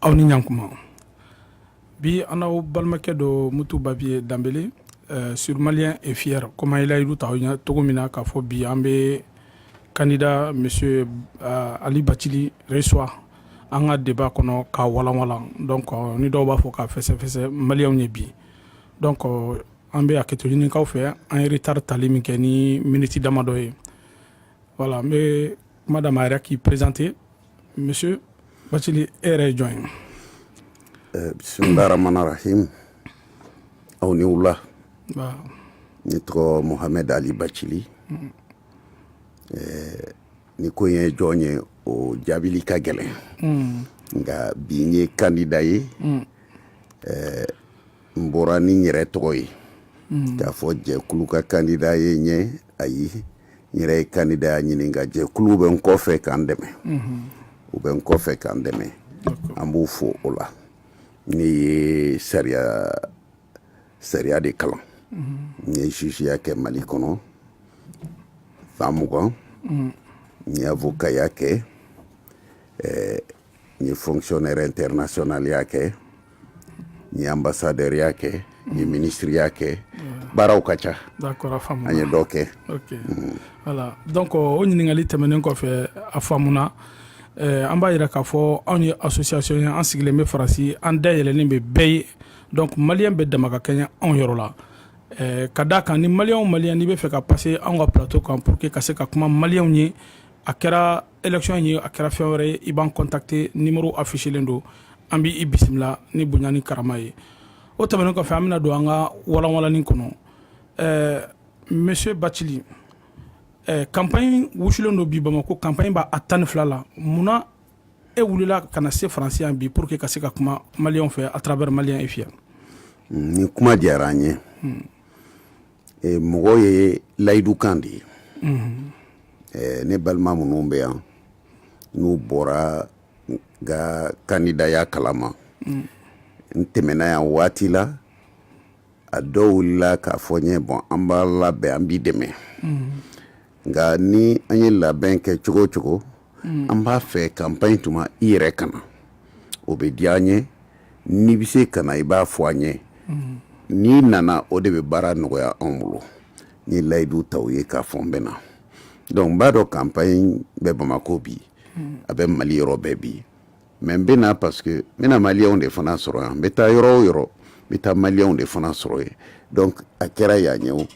aw ni ɲankuma bi an n'aw balimakɛ don mutu babiye danbele euh, sur malien et fier comme an ye layidu ta aw ye cogo min na k'a fɔ bi an bɛ candidat monsieur euh, ali bacili reçoit an ka débat kɔnɔ k'a walanwalan donc euh, ni dɔw b'a fɔ k'a fɛsɛfɛsɛ maliyɛnw ye bi donc euh, an bɛ hakɛto ɲini k'aw fɛ an ye retard tali min kɛ ni miniti damadɔ ye Voilà n bɛ kuma d'a ma a yɛrɛ k'i présenter monsieur Bacili e yɛrɛ ye jɔn ye bisimilahi rahmani rahim aw ni wula ne tɔgɔ Mohamed Ali Bacili n'i ko n ye jɔn ye o jaabili ka gɛlɛn nka bi n ye kandida ye n bɔra ni n yɛrɛ tɔgɔ ye hmm. k'a fɔ jɛkulu ka kandida ye n ye ayi n yɛrɛ ye kandidaya ɲini nka jɛkulu bɛ n kɔfɛ ka n dɛmɛ hmm. u bɛ n kɔfɛ ka n dɛmɛ an b'u fo o la ne ye sariya sariya de kalan hmm. n ye jugeya kɛ mali kɔnɔ san mugan n ye avokaya kɛ eh, n ye fonctionnaire internationalya kɛ n ye ambassadeurya kɛ n ye ministreya kɛ baaraw ka ca an ye dɔ kɛ voilà donc o ɲininkali tɛmɛnen kɔfɛ a faamuna eh, an b'a yira k'a fɔ anw ye association ye an sigilen bɛ Faransi an da yɛlɛlen bɛ bɛɛ ye donc maliyɛn bɛɛ dama ka kɛɲɛ anw yɔrɔ la eh, ka d'a kan ni maliyɛn o maliyɛn n'i bɛ fɛ ka pase anw ka plateau kan pour que ka se ka kuma maliyɛnw ye a kɛra election ye a kɛra fɛn wɛrɛ ye i b'an contacter numéro affichelen don an b'i bisimila ni bonya ni karama ye o tɛmɛnen kɔfɛ an bɛna don an ka walanwalanni kɔnɔ ɛɛ eh, monsieur Bacili ɛɛ eh, campagne wusulen don bi Bamako campagne b'a a tan ni fila la munna e wulila ka na se Faransi yan bi pour que ka se ka kuma maliyɛnw fɛ à travers malien et fier. nin kuma diyara an ye. Hmm. mɔgɔ ye layidukan de ye ne balima minnu bɛ yan n'u bɔra n ka kandidaya kalama n tɛmɛna yan waati la a dɔw wulila k'a fɔ n ye bon an b'a labɛn an b'i dɛmɛ nka ni an ye labɛn kɛ cogo o cogo mm. an b'a fɛ campagne tuma i yɛrɛ ka na o bɛ diya an ye n'i bɛ se ka na i b'a fɔ an ye mm. n'i nana o de bɛ baara nɔgɔya anw bolo n ye layidu ta u ye k'a fɔ n bɛ na donc n b'a dɔn campagne bɛ bamakɔ bi mm. a bɛ mali yɔrɔ bɛɛ bi mais n bɛ na parce que n bɛna maliyɛnw de fana sɔrɔ yan n bɛ taa yɔrɔ o yɔrɔ n bɛ taa maliyɛnw de fana sɔrɔ yen donc a kɛra yan ye o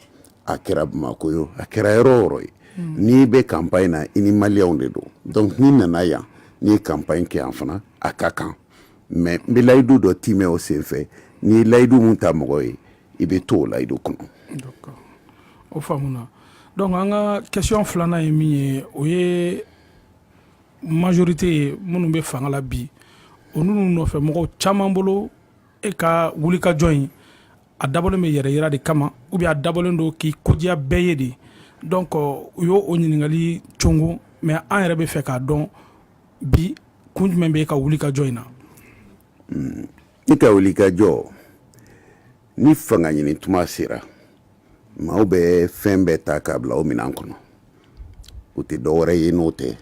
a kɛra bamako ye o a kɛra yɔrɔ o yɔrɔ ye hmm. n'i bɛ campagne na i ni maliyɛnw de don donc n'i nana yan n'i ye campagne kɛ yan fana a ka kan mais n bɛ layidu dɔ timɛ o senfɛ n'i ye layidu mun ta mɔgɔ ye i bɛ to o layidu kɔnɔ. o faamuna donc an ka question filanan ye min ye o ye majorité ye minnu bɛ fanga la bi o ninnu nɔfɛ mɔgɔw caman bolo e ka wulikajɔ in a dabɔlen bɛ yɛrɛ yira de kama ou bien a dabɔlen don k'i ko diya bɛɛ ye de donc u y'o ɲininkali congo mais an yɛrɛ bɛ fɛ k'a dɔn bi kun jumɛn bɛ e ka wulikajɔ in na hmm, i ka wulikajɔ ni fanga ɲini tuma sera maaw bɛ fɛn bɛɛ ta k'a bila o minɛn kɔnɔ o tɛ dɔwɛrɛ ye n'o tɛ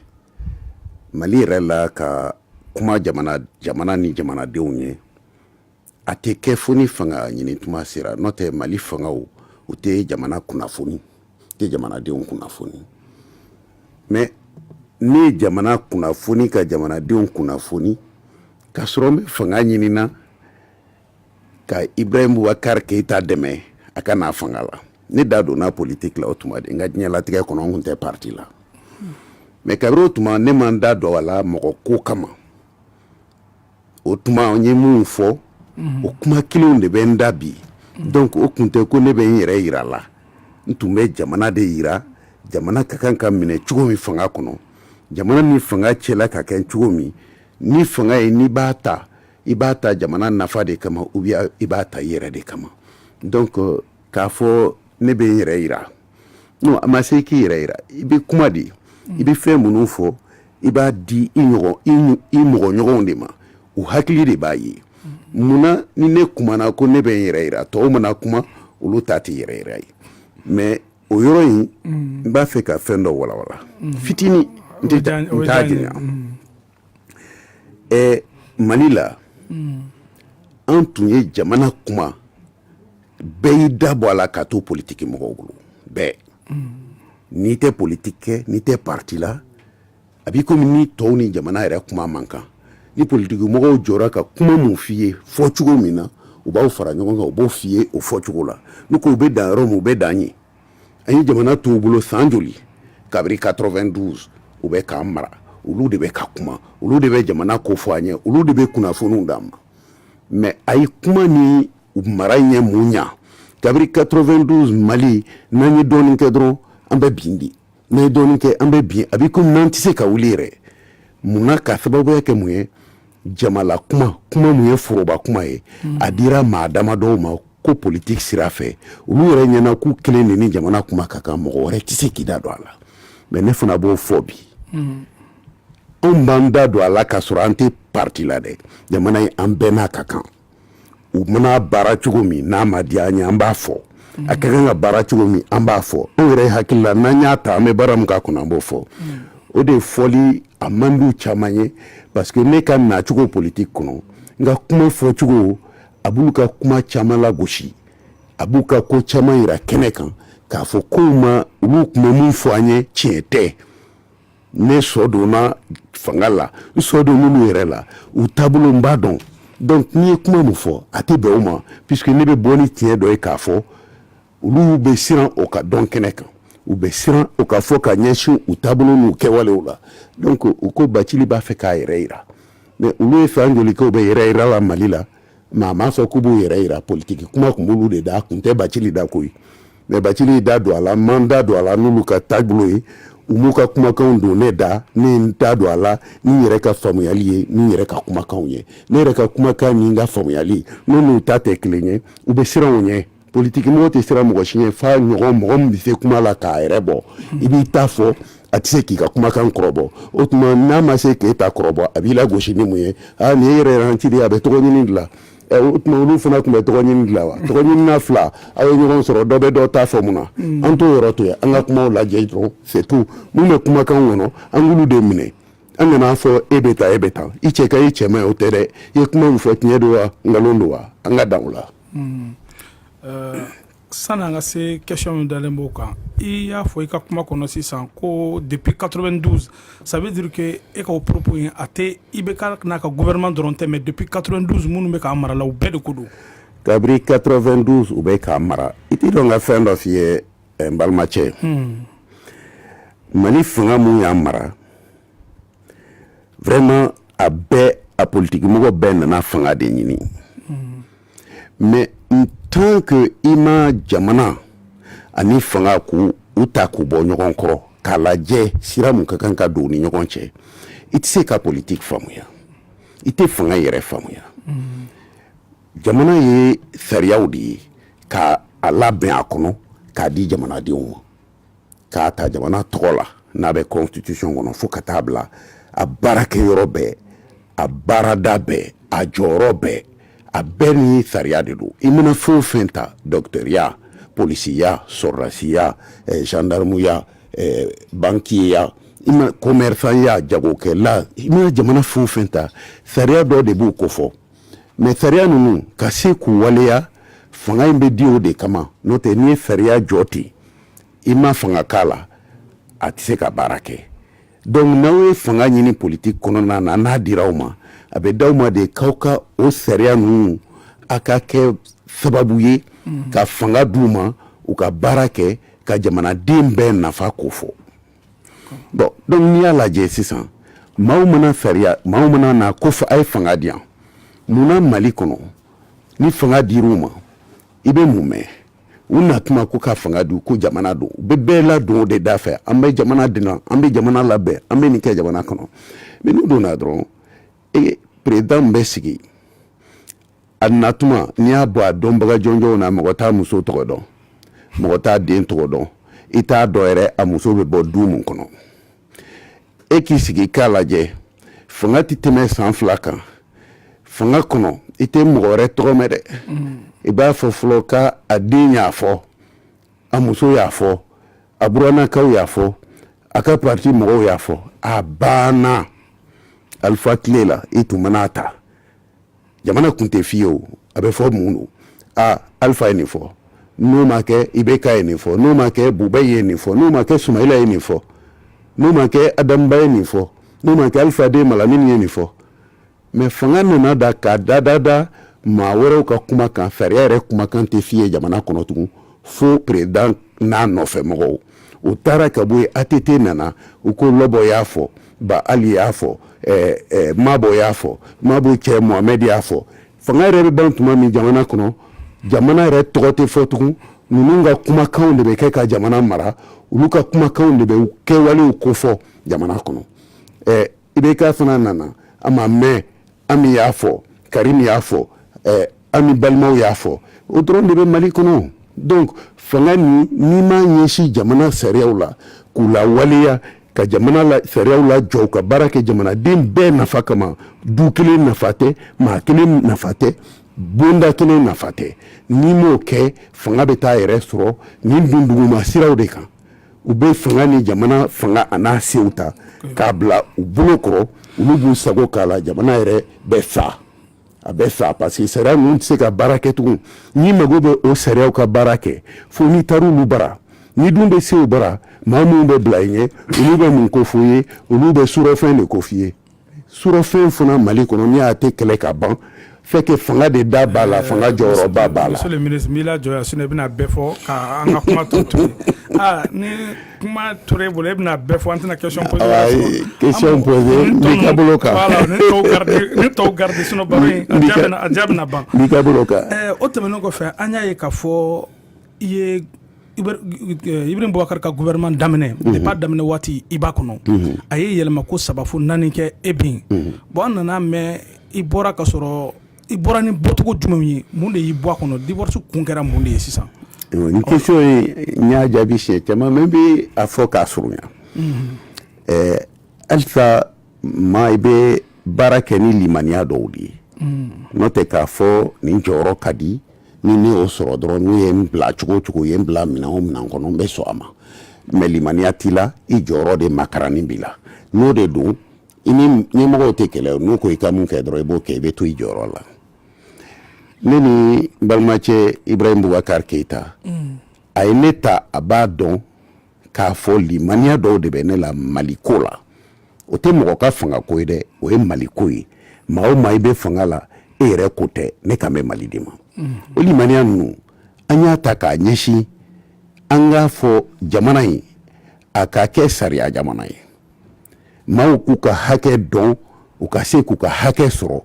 mali yɛrɛ la ka kuma jamana jamana ni jamanadenw ye a tɛ kɛ fo ni fanga ɲini tuma sera n'o tɛ mali fangaw u tɛ jamana kunnafoni tɛ jamanadenw kunnafoni mais ne ye jamana kunnafoni ka jamanadenw kunnafoni k'a sɔrɔ n bɛ fanga ɲini na ka ibrahim bubakar keyita dɛmɛ a ka na fanga la ne da donna politiki la o tuma de n ka diɲɛlatigɛ kɔnɔ n kun tɛ parti la mais kabiri o tuma ne ma n da don a la mɔgɔ ko kama o tuma n ye minnu fɔ mhm. o kuma kelenw de bɛ n da bi mhm. donc o kun tɛ ko ne bɛ n yɛrɛ yira la n tun bɛ jamana de yira jamana ka kan ka minɛ cogo min fanga kɔnɔ jamana ni fanga cɛla ka kɛ cogo min ni fanga ye n'i b'a ta i b'a ta jamana nafa de kama ou bien i b'a ta i yɛrɛ de kama donc k'a fɔ ne bɛ n yɛrɛ yira non a ma se k'i yɛrɛ yira i bɛ kuma de i bɛ fɛn minnu fɔ i b'a di i ɲɔgɔn i mɔgɔ ɲɔgɔnw de ma u hakili de b'a ye munna ni ne kumana ko ne bɛ n yɛrɛ yira tɔw mana kuma olu ta tɛ yɛrɛ yira ye mais o yɔrɔ in n b'a fɛ ka fɛn dɔ walawala fitini n t'a janya ɛ mali la mm. an tun ye jamana kuma bɛɛ y'i da bɔ a la ka to politiki mɔgɔw bolo bɛɛ mm. n'i tɛ politiki kɛ n'i tɛ parti la a b'i komi ni tɔw ni jamana yɛrɛ kuma man kan ni politiki mɔgɔw jɔra ka kuma mun f'i ye fɔ cogo min na u b'aw fara ɲɔgɔn kan u b'o f'i ye o fɔ cogo la n'u ko u bɛ dan yɔrɔ min u bɛ dan yen an ye jamana t'u bolo san joli kabiri 92 u bɛ k'an mara olu de bɛ ka kuma olu de bɛ jamana ko fɔ an ɲɛ olu de bɛ kunnafoniw d'an ma mais a ye kuma ni mara ye mun ɲɛ kabiri 92 mali n'an ye dɔɔnin kɛ dɔrɔn an bɛ bin di n'an ye dɔɔnin kɛ an bɛ bin a bɛ komi n'an tɛ se ka wuli yɛrɛ mun na ka sababuya kɛ mun ye jamala kuma kuma mun ye foroba kuma ye mm. a dira maa dama dɔw ma ko politiki sira fɛ olu yɛrɛ ɲɛna k'u kelen de ni jamana kuma ka kan mɔgɔ wɛrɛ tɛ se k'i da don a la mɛ ne fana b'o fɔ bi mm. anw b'an da don a la k'a sɔrɔ an tɛ parti la dɛ jamana in an bɛɛ n'a ka kan u mana baara cogo min n'a ma diya an ye an b'a fɔ a ka kan ka baara cogo min an b'a fɔ anw yɛrɛ hakili la n'an y'a ta an bɛ baara min k'a kɔnɔ an b'o fɔ o de fɔli a man d'u caman ye parce que ne ka nacogo politiki kɔnɔ n ka kuma fɔcogo a b'u ka kuma caman lagosi a b'u ka ko caman yira kɛnɛ kan k'a fɔ kow ma olu tun bɛ min fɔ an ye tiɲɛ tɛ ne sɔ donna fanga la n sɔ don n'olu yɛrɛ la u taabolo n b'a dɔn donc n'i ye kuma min fɔ a tɛ bɛn o ma puisque ne bɛ bɔ ni tiɲɛ dɔ ye k'a fɔ olu bɛ siran o ka dɔn kɛnɛ kan u bɛ siran o ka fɔ ka ɲɛsin u taabolo n'u kɛwalew la donc u ko bacili b'a fɛ k'a yɛrɛ yira mais olu ye san joli kɛ u bɛ yɛrɛ yira la mali la maa m'a fɔ k'u b'u yɛrɛ yira politiki kuma tun b'olu de da kun tɛ bacili da koyi mɛ bacili da don a la n ma n da don a la n'olu ka taabolo ye u m'u ka kumakanw don ne da ne n da don a la ni n yɛrɛ ka faamuyali ye ni n yɛrɛ ka kumakanw ye ne yɛrɛ ka kumakan ni n ka faamuyali n'u n'u ta tɛ kelen ye u bɛ siran o ɲɛ politikimɔgɔ tɛ siran mɔgɔ si ɲɛ f'a ɲɔgɔn mɔgɔ min bɛ se kuma la k'a yɛrɛ bɔ i b'i ta fɔ a tɛ se k'i ka kumakan kɔrɔbɔ o tuma n'a ma se k'e ta kɔrɔbɔ a b'i lagosi ni mun ye aa nin ye yɛrɛ ci a bɛ tɔgɔ ɲini de la o tuma olu fana tun bɛ tɔgɔ ɲini de la wa tɔgɔ ɲinina fila aw ye ɲɔgɔn sɔrɔ dɔ bɛ dɔ ta fɔ mun na mm. an t'o yɔrɔ to yen an ka kumaw lajɛ dɔrɔn c'est tout mun bɛ kumakan kɔnɔ an k'olu de minɛ an kana fɔ e bɛ tan e bɛ tan i cɛ ka ɲi i cɛ man ɲi o tɛ dɛ i ye kuma min fɔ tiɲɛ don wa nkalon don wa an ka dan o la Hmm. Euh, sani an ka se question min dalen b'o kan i y'a fɔ i ka kuma kɔnɔ sisan ko depuis 92 ça veut dire que e ka o propos in a tɛ IBK n'a ka gouvernement dɔrɔn tɛ mais depuis 92 minnu bɛ k'an mara la u bɛɛ de ko don kabiri 92 u bɛ k'an mara i t'i jɔ n ka fɛn dɔ f'i ye n balimacɛ mali fanga mun y'an mara vraiment a bɛɛ a politiki mɔgɔ bɛɛ nana fanga de ɲini mais en tant que i ma jamana ani fanga k'u ta k'u bɔ ɲɔgɔn kɔrɔ k'a lajɛ sira mun ka kan ka don ni ɲɔgɔn cɛ i tɛ se ka politiki faamuya i tɛ fanga yɛrɛ faamuya jamana ye sariyaw de ye k'a labɛn a kɔnɔ k'a di jamanadenw ma k'a ta jamana tɔgɔ la n'a bɛ constitution kɔnɔ fo ka taa bila a baarakɛ yɔrɔ bɛɛ a baarada bɛɛ a jɔyɔrɔ bɛɛ a bɛɛ ni sariya de don i mana fɛn o fɛn ta docteurya polisiya sɔrɔdasiya eh, gendarmuya eh, bankiya i ma commerçant ya jagokɛla i mana jamana fɛn o fɛn ta sariya dɔ de b'u kofɔ mais sariya ninnu ka se k'u waleya fanga in bɛ di o de kama n'o tɛ n'i ye sariya jɔ ten i ma fanga k'a la a tɛ se ka baara kɛ donc n'aw ye fanga ɲini politiki kɔnɔna na n'a dira aw ma a bɛ d'aw ma de k'aw ka o sariya ninnu a ka kɛ sababu ye ka fanga d'u ma u ka baara kɛ ka jamanaden bɛɛ nafa ko fɔ donc n'i y'a lajɛ sisan maaw mana sariya maaw mana na ko a ye fanga di yan munna mali kɔnɔ ni fanga dir'u ma i bɛ mun mɛn u na tuma ko ka fanga di ko jamana don u bɛ bɛɛ ladon o de da fɛ an bɛ jamana dilan an bɛ jamana labɛn an bɛ nin kɛ jamana kɔnɔ mais n'u donna dɔrɔn e président bɛ sigi a na tuma n'i y'a bɔ a dɔnbaga jɔnjɔnw na mɔgɔ t'a muso tɔgɔ dɔn mɔgɔ t'a den tɔgɔ dɔn i t'a dɔn yɛrɛ a muso bɛ bɔ du mun kɔnɔ e k'i sigi k'a lajɛ fanga tɛ tɛmɛ san fila kan fanga kɔnɔ i tɛ mɔgɔ wɛrɛ tɔgɔ mɛn dɛ i b'a fɔ fɔlɔ k'a den y'a fɔ a muso y'a fɔ a buranakaw y'a fɔ a ka parti mɔgɔw y'a fɔ a banna alifa tile la i tun mana ta jamana kun tɛ f'i ye o a bɛ fɔ mun don a alifa ye nin fɔ n'o ma kɛ IBK ye nin fɔ n'o ma kɛ buba ye nin fɔ n'o ma kɛ sumayila ye nin fɔ n'o ma kɛ adam ba ye nin fɔ n'o ma kɛ alifa den malamini ye nin fɔ mais fanga nana da ka dadada maa wɛrɛw ka kuma kan sariya yɛrɛ kumakan tɛ f'i ye jamana kɔnɔ tugun fo président n'a nɔfɛ mɔgɔw o taara ka bɔ yen ATT nana u ko Lɔbɔ y'a fɔ Ba Ali y'a fɔ ɛɛ ɛɛ Mabɔ y'a fɔ Mabɔ cɛ Mohamɛdi y'a fɔ fanga yɛrɛ bɛ ban tuma min jamana kɔnɔ jamana yɛrɛ tɔgɔ tɛ fɔ tugun ninnu ka kumakanw de bɛ kɛ ka jamana mara olu ka kumakanw de bɛ kɛwalew kofɔ jamana kɔnɔ ɛɛ IBK fana nana a ma mɛn Ami y'a fɔ Karim y'a fɔ Ami balimaw y'a fɔ o dɔrɔn de bɛ mali kɔnɔ donc fanga nin n'i m'a ɲɛsin jamana sariyaw la k'u lawaleya ka jamana sariyaw lajɔ ka baara kɛ jamanaden bɛɛ nafa kama du kelen nafa tɛ maa kelen nafa tɛ bonda kelen nafa tɛ n'i m'o kɛ fanga bɛ taa yɛrɛ sɔrɔ nin dunduguma siraw de kan u bɛ fanga ni jamana fanga an'a sew ta k'a bila u bolo kɔrɔ olu b'u sago k'a la jamana yɛrɛ bɛ sa a bɛ sa parce que sariya ninnu tɛ se ka baara kɛ tugun n'i mago bɛ o sariyaw ka baara kɛ fo n'i taara olu bara n'i dun bɛ se u bara maa minnu bɛ bila i ɲɛ olu bɛ mun ko f'i ye olu bɛ surɔfɛn de ko f'i ye Sfen fana mali kɔnɔ n y'a tɛ kɛlɛ ka ban fanga de da b'a la fanga jɔyɔrɔ b'a la jɔ i bɛna bɛɛ fɔ an ka kuma to to ni kuma to e bolo e bɛna bɛɛ fɔ an tɛna ke bolo ban o tɛmɛn kɔfɛ an y'a ye ka fɔ i ye Ibrahim Boubacar ka gouvernement daminɛ unhun depuis a daminɛ waati i b'a kɔnɔ unhun a ye yɛlɛma ko 3 fo 4 kɛ eh bien unhun bon an nana mɛn i bɔra ka sɔrɔ i bɔra ni bɔcogo jumɛnw ye mun de y'i bɔ a kɔnɔ divorce kun kɛra mun de ye sisan nin question ye n y'a jaabi siɲɛ caman mais n bɛ a fɔ k'a surunya unhun ɛɛ halisa maa i bɛ baara kɛ ni limaniya dɔw de ye mm. n'o tɛ k'a fɔ nin jɔyɔrɔ ka di ni ne y'o sɔrɔ dɔrɔn n'u ye n bila cogo o cogo u ye n bila minɛn o minɛn kɔnɔ n bɛ sɔn a ma mais limaniya t'i la i jɔyɔrɔ de makarani b'i la n'o de don i ni ɲɛmɔgɔw tɛ kɛlɛ n'u ko i ka mun kɛ dɔrɔn i b'o kɛ i bɛ to i jɔyɔrɔ la ne ni balimacɛ Ibrahim Boubacar Keita mm. a ye ne ta a b'a dɔn k'a fɔ limaniya dɔw de bɛ ne la maliko la o tɛ mɔgɔ ka fanga ko ye dɛ o ye maliko ye maa o maa i bɛ fanga la e yɛrɛ ko tɛ ne kan bɛ mali de ma mm-hmm. o limaniya ninnu an y'a ta k'a ɲɛsin an k'a fɔ jamana in a ka kɛ sariya jamana ye maaw k'u ka hakɛ dɔn u ka se k'u ka hakɛ sɔrɔ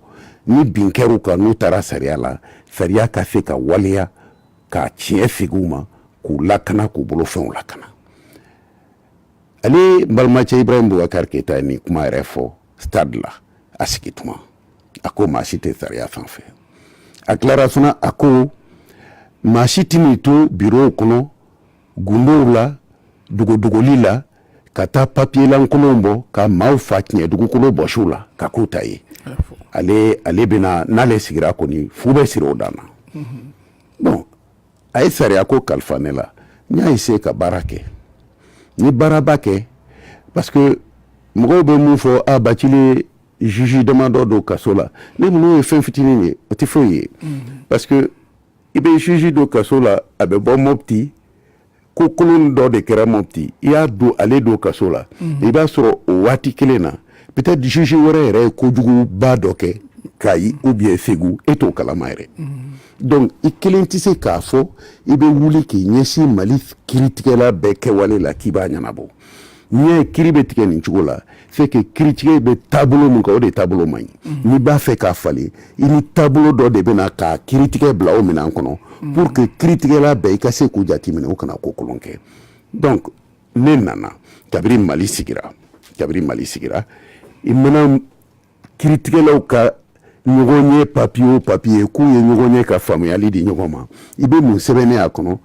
ni bin kɛr'u kan n'u taara sariya la sariya ka se ka waleya ka tiɲɛ segin u ma k'u lakana k'u bolofɛnw lakana ale n balimacɛ Ibrahim Boubacar Keita ye nin kuma yɛrɛ fɔ stade la a sigi tuma a ko maa si tɛ sariya sanfɛ a tilara fana a ko maa si tɛn'i to birow kɔnɔ gundow la dogodogoli la ka taa papier lankolonw bɔ ka maaw fa tiɲɛ dugukolo bɔsi u la k'a k'u ta ye ale ale bɛna n'ale sigira kɔni fu bɛ siri o dan na bon a ye sariya ko kalifa ne la n y'a essayer ka baara kɛ n ye baaraba kɛ parce que mɔgɔw bɛ mun fɔ a Bathily ye juge damadɔ don kaso la ne n'o ye fɛn fitinin ye o tɛ foyi ye parce que i bɛ juge don kaso la a bɛ bɔ Mopti ko kolon dɔ de kɛra mopti i y'a don ale don kaso la i b'a sɔrɔ o waati kelen na peut-être juge wɛrɛ yɛrɛ ye kojuguba dɔ kɛ kayi ou bien segu e t'o kalama yɛrɛ donc i kelen tɛ se k'a fɔ i bɛ wuli k'i ɲɛsin mali kiritigɛla bɛɛ kɛwale la k'i b'a ɲɛnabɔ n'i y'a ye kiri bɛ tigɛ nin cogo la c'est que kiritigɛ bɛ taabolo min kan o de taabolo man ɲi mhm. n'i b'a fɛ k'a falen i ni taabolo dɔ de bɛ na ka kiritigɛ bila o minɛn kɔnɔ mhm. pour que kiritigɛla bɛɛ i ka se k'u jateminɛ u kana ko kolon kɛ donc ne nana kabiri mali sigira kabiri mali sigira i mana kiritigɛlaw ka ɲɔgɔnye papiye o papiye k'u ye ɲɔgɔn ye ka faamuyali di ɲɔgɔn ma i bɛ mun sɛbɛnnen a kɔnɔ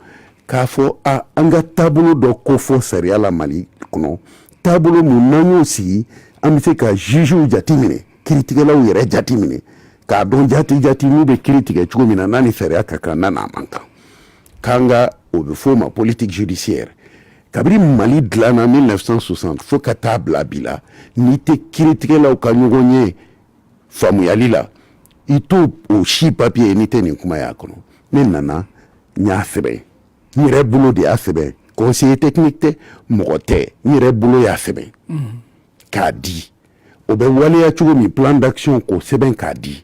k'a fɔ a an ka taabolo dɔ kofɔ sariya la mali kɔnɔ taabolo mun n'an y'o sigi an bɛ se ka jugew jateminɛ kiritigɛlaw yɛrɛ jateminɛ k'a dɔn jati jati n'u bɛ kiri tigɛ cogo min na n'a ni sariya ka kan n'a n'a man kan K'an ka o bɛ f'o ma politique judiciaire kabiri Mali dilanna 1960 fo ka taa bila bi la n'i tɛ kiritigɛlaw ka ɲɔgɔnye faamuyali la i t'o o si papier ye n'i tɛ nin kuma y'a kɔnɔ ne nana n y'a sɛbɛn n yɛrɛ bolo de y'a sɛbɛn conseiller technique tɛ mɔgɔ tɛ n yɛrɛ bolo y'a sɛbɛn k'a di o bɛ waleya cogo min plan d'action k'o sɛbɛn k'a di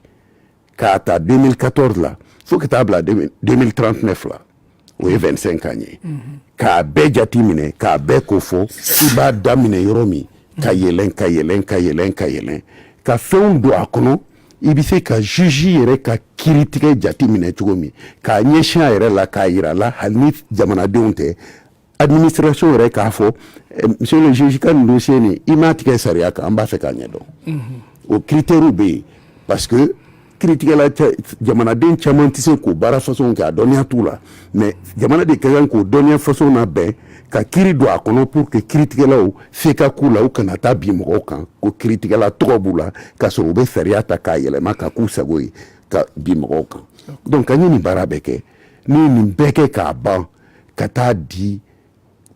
K'a ta 2014 la fo ka taa bila 2039 la o ye 25 ans ye k'a bɛɛ jateminɛ k'a bɛɛ kofɔ i b'a daminɛ yɔrɔ min ka yɛlɛn ka yɛlɛn ka yɛlɛn ka yɛlɛn ka fɛnw don a kɔnɔ i bɛ se ka juge yɛrɛ ka kiritigɛ jateminɛ cogo min k'a ɲɛsin a yɛrɛ la k'a yira a la hali ni jamanadenw tɛ administration yɛrɛ k'a fɔ eh, monsieur le juge ka nin dossier nin i m'a tigɛ sariya kan an b'a fɛ k'a ɲɛdɔn mhm. o critères bɛ yen parce que kiritigɛla jamanaden caman tɛ se k'o baara façon kɛ a dɔnniya t'u la mais jamana de ka kan k'o dɔnniya façon labɛn ka kiri don a kɔnɔ pour que kiritigɛlaw se ka k'u la u kana taa bin mɔgɔw kan ko kiritigɛla tɔgɔ b'u la k'a sɔrɔ u bɛ sariya ta k'a yɛlɛma ka k'u sago ye ka bin mɔgɔw kan donc an ye nin baara bɛɛ kɛ ne ye nin bɛɛ kɛ k'a ban ka taa di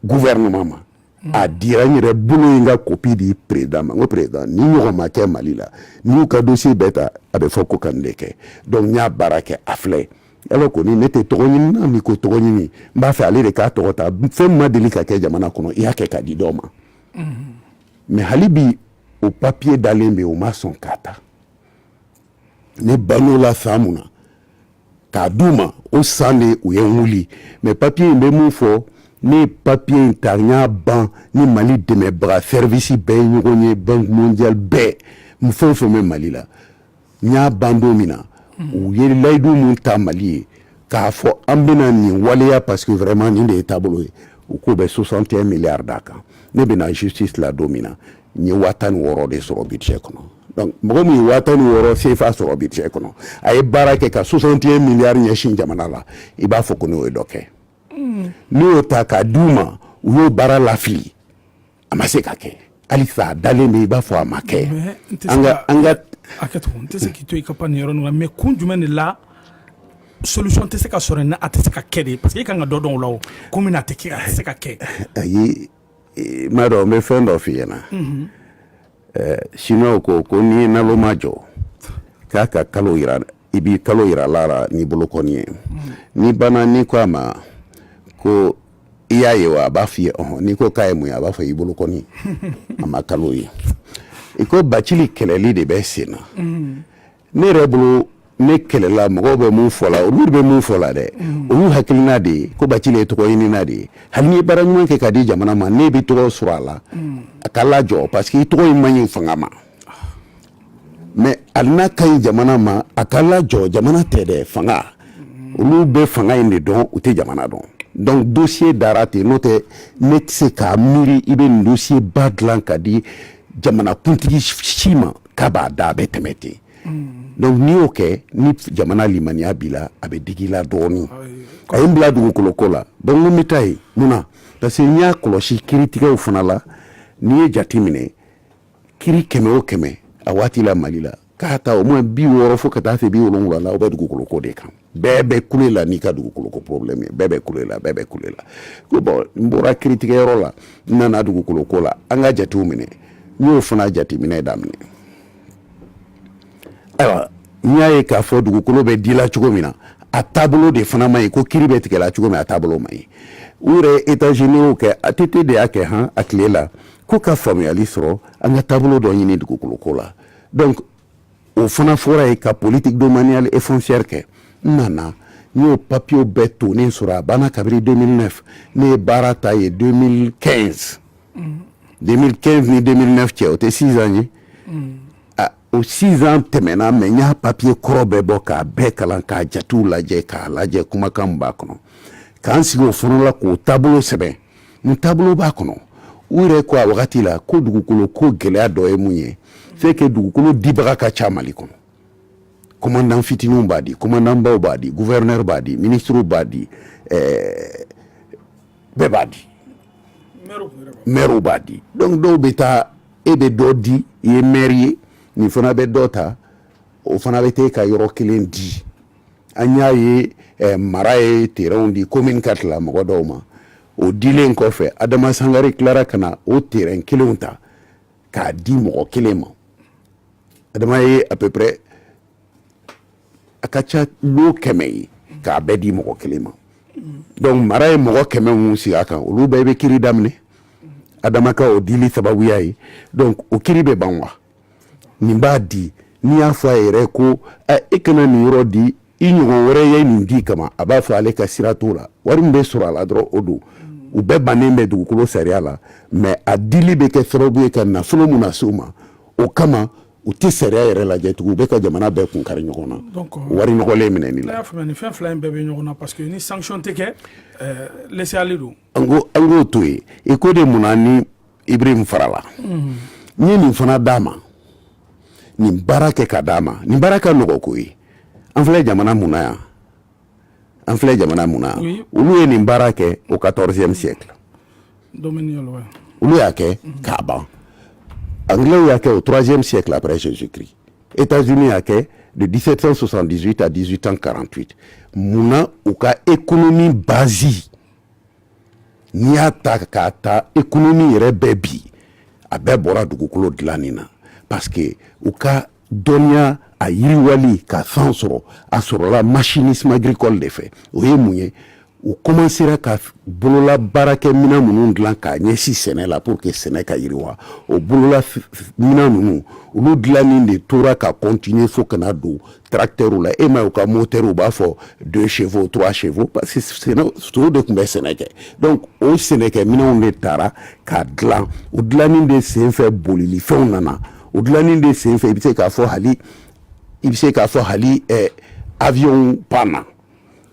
gouvernement ma mm. a dira n yɛrɛ bolo ye n ka copie di président ma n ko président nin ɲɔgɔn ma kɛ mali la n'i y'u ka dossier bɛɛ ta a bɛ fɔ ko ka nin de kɛ donc n y'a baara kɛ a filɛ alors que ni ne tɛ tɔgɔ ɲini na ni ko tɔgɔ ɲini n b'a fɛ ale de k'a tɔgɔ ta fɛn ma deli ka kɛ jamana kɔnɔ i y'a kɛ k'a di dɔ ma mm-hmm. mais hali bi o papiye dalen bɛ o ma sɔn k'a ta ne ban'o la san mun na k'a d'u ma o san de u ye n wuli mais papiye in bɛ mun fɔ ne ye papiye in ta n y'a ban ni mali dɛmɛbaga sɛrivisi bɛɛ ye ɲɔgɔn ye banque mondiale bɛɛ fɛn o fɛn bɛ mali la n y'a ban don min na u ye layidu min ta mali ye k'a fɔ an bɛna nin waleya parce que vraiment nin de ye taabolo ye u k'o bɛ 61 milliards d'a kan ne bɛ na justice la don min na n ye waa tan ni wɔɔrɔ de sɔrɔ budget kɔnɔ donc mɔgɔ min ye waa tan ni wɔɔrɔ sefa sɔrɔ budget kɔnɔ a ye baara kɛ ka 61 milliards ɲɛsin jamana la i b'a fɔ ko n'o ye dɔ kɛ hmm. ne y'o ta k'a d'u ma u y'o baara lafili a ma se ka kɛ halisa a dalen bɛ i b'a fɔ a ma kɛ an ka an ka hakɛto n tɛ se k'i to i ka pan nin yɔrɔ ninnu na mais kun jumɛn de la solution tɛ se ka sɔrɔ ni a tɛ se ka kɛ de parce que i kan ka dɔ dɔn o la o kun min na a tɛ kɛ a tɛ se ka kɛ ayi i m'a dɔn n bɛ fɛn dɔ f'i ɲɛna chinois ko ko n'i ye naloma jɔ k'a ka kalo yira i bɛ kalo yira a la n'i bolokɔni ye n'i banna n'i ko a ma ko i y'a ye wa a b'a f'i ye ɔhɔn n'i ko k'a ye mun ye a b'a fɔ i bolokɔni a ma kalo ye i ko bacili kɛlɛli de bɛ sen na ne yɛrɛ bolo ne kɛlɛla mɔgɔw bɛ mun fɔ la olu bɛ mun fɔ la dɛ mm. olu hakilina de ye ko bacili ye tɔgɔɲinina de ye hali n'i ye baara ɲuman kɛ ka di jamana ma ne bɛ tɔgɔ sɔrɔ a la mm. a ka lajɔ parce que i tɔgɔ in man ɲi fanga ma mais hali n'a ka ɲi jamana ma a ka lajɔ jamana tɛ dɛ fanga mm. olu bɛ fanga in de dɔn u tɛ jamana dɔn donc dossier dara ten n'o tɛ ne tɛ se k'a miiri i bɛ nin dossier ba dilan ka di jamanakuntigi si ma k'a b'a da a bɛ tɛmɛ ten donc n'i y'o kɛ ni jamana limaniya b'i la a bɛ digi i la dɔɔni a ye n bila dugukolo ko la donc n ko n bɛ taa yen mun na parce que n y'a kɔlɔsi kiritigɛw fana la n'i ye jate minɛ kiri kɛmɛ o kɛmɛ a waati la mali la k'a ta au moins bi wɔɔrɔ fo ka taa se bi wolonwula la o bɛ dugukolo ko de kan bɛɛ bɛ kule la n'i ka dugukolo ko problème ye bɛɛ bɛ kule la bɛɛ bɛ kule la ko bon n bɔra kiritigɛyɔrɔ la n nana dugukolo ko la an ka jatew minɛ n y'o fana jateminɛ daminɛ ayiwa n y'a ye k'a fɔ dugukolo bɛ di la cogo min na a taabolo de fana man ɲi i ko kiri bɛ tigɛ la cogo min a taabolo man ɲi u yɛrɛ ye états généraux kɛ ATT de y'a kɛ han a tile la ko ka faamuyali sɔrɔ an ka taabolo dɔ ɲini dugukolo ko la donc o fana fɔra yen ka politique domaniale et foncière kɛ n nana n y'o papiyew bɛɛ tonnen sɔrɔ a banna kabiri 2009 ne ye baara ta ye 2015 2015 ni 2009 cɛ o tɛ 6 ans ye o 6 ans tɛmɛna mais n y'a papiye kɔrɔ bɛɛ bɔ k'a bɛɛ kalan k'a jatew lajɛ k'a lajɛ kumakan min b'a kɔnɔ k'an sigi o fana la k'o taabolo sɛbɛn n taabolo b'a kɔnɔ u yɛrɛ ko a wagati la ko dugukolo ko gɛlɛya dɔ ye mun ye c'est que dugukolo dibaga ka ca mali kɔnɔ komandan fitininw b'a di komandanbaw b'a di guvɛrinɛri b'a di minisiriw b'a di eh, bɛɛ b'a di mɛriw b'a di donc dɔw bɛ taa e bɛ dɔ di i ye mɛri ye nin fana bɛ dɔ ta o fana bɛ taa e ka yɔrɔ kelen di an y'a ye eh, mara ye terrainw di commune quatre la mɔgɔ dɔw ma o dilen kɔfɛ adama sangare tilara ka na o terrain kelenw ta k'a di mɔgɔ kelen ma adama ye à peu près a ka ca lot kɛmɛ ye k'a bɛɛ di mɔgɔ kelen ma donc mara ye mɔgɔ kɛmɛ minnu sigi a kan olu bɛɛ bɛ kiri daminɛ adama ka o dili sababuya ye donc o kiri bɛ ban wa nin b'a di n'i y'a fɔ a yɛrɛ ko e kana nin yɔrɔ di i ɲɔgɔn wɛrɛ ye nin di kama a b'a fɔ ale ka sira t'o la wari min bɛ sɔrɔ a la dɔrɔn o don u bɛɛ bannen bɛ dugukolo sariya la mais a dili bɛ kɛ sababu ye ka nafolo min nase u ma o kama u tɛ sariya yɛrɛ lajɛ tugun u bɛ ka jamana bɛɛ kun kari ɲɔgɔn na wari nɔgɔlen minɛni la fɛn fila in bɛɛ bɛ ɲɔgɔn na parce que ni sanction tɛ kɛ laisser-aller don an ko an k'o to yen i ko de mun na ni ibrahim farala n ye nin fana d'a ma nin baara kɛ ka d'a ma nin baara ka nɔgɔ ko ye an filɛ jamana mun na yan an filɛ jamana mun na yan olu ye nin baara kɛ au 14e siècle olu y'a kɛ k'a ban anglaisw y'a kɛ au 3e siècle après jésus christ états-unis y'a kɛ de 1778 à 1848 mun na u ka économie base n'i y'a ta k'a ta ekonomi yɛrɛ bɛɛ bi a bɛɛ bɔra dugukolo dilanni na parce que u ka dɔnniya a yiriwali ka san sɔrɔ a sɔrɔla machinisme agricole de fɛ o ye mun ye u kɔmansera ka bolola baarakɛ minɛn minnu dilan k'a ɲɛsin sɛnɛ la pour que sɛnɛ ka yiriwa o bolola minɛn ninnu olu dilanni de tora ka continuer fo ka na don tracteurw la e m'a ye u ka moteur u b'a fɔ deux chevaux trois chevaux parce que sow de tun bɛ sɛnɛ kɛ donc o sɛnɛkɛ minɛnw de taara ka dilan o dilanni de senfɛ bolilifɛnw nana o dilanni de senfɛ i bɛ se k'a fɔ hali i bɛ se k'a fɔ hali avion panna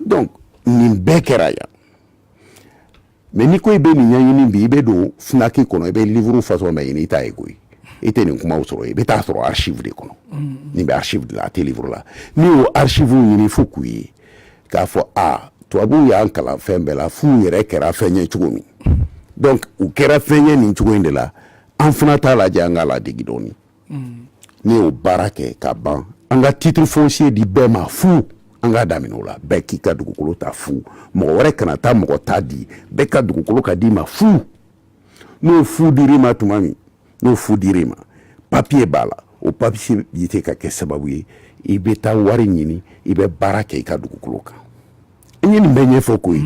donc nin bɛɛ kɛra yan mais n'i ko i bɛ nin ɲɛɲini bi i bɛ don fnac kɔnɔ i bɛ livuru fasɔn bɛɛ ɲini i t'a ye koyi i tɛ nin kumaw sɔrɔ i bɛ taa sɔrɔ archive de kɔnɔ nin bɛ archive de la a tɛ livuru la n'i y'o archive ɲini fo k'u ye k'a fɔ a tubabuw y'an kalan fɛn bɛɛ la f'u yɛrɛ kɛra fɛn ye cogo min donc u kɛra fɛn ye nin cogo in de la an fana t'a lajɛ an k'a ladegi dɔɔni n'i y'o baara kɛ ka ban an ka titre foncier di bɛɛ ma fu an k'a daminɛ o la bɛɛ k'i ka dugukolo ta fu mɔgɔ wɛrɛ kana taa mɔgɔ ta di bɛɛ ka dugukolo ka d'i ma fu n'o fu dir'i ma tuma min n'o fu dir'i ma papiye b'a la o papiye bi se ka kɛ sababu ye i bɛ taa wari ɲini i bɛ baara kɛ i ka dugukolo kan n ye nin bɛɛ ɲɛfɔ ko ye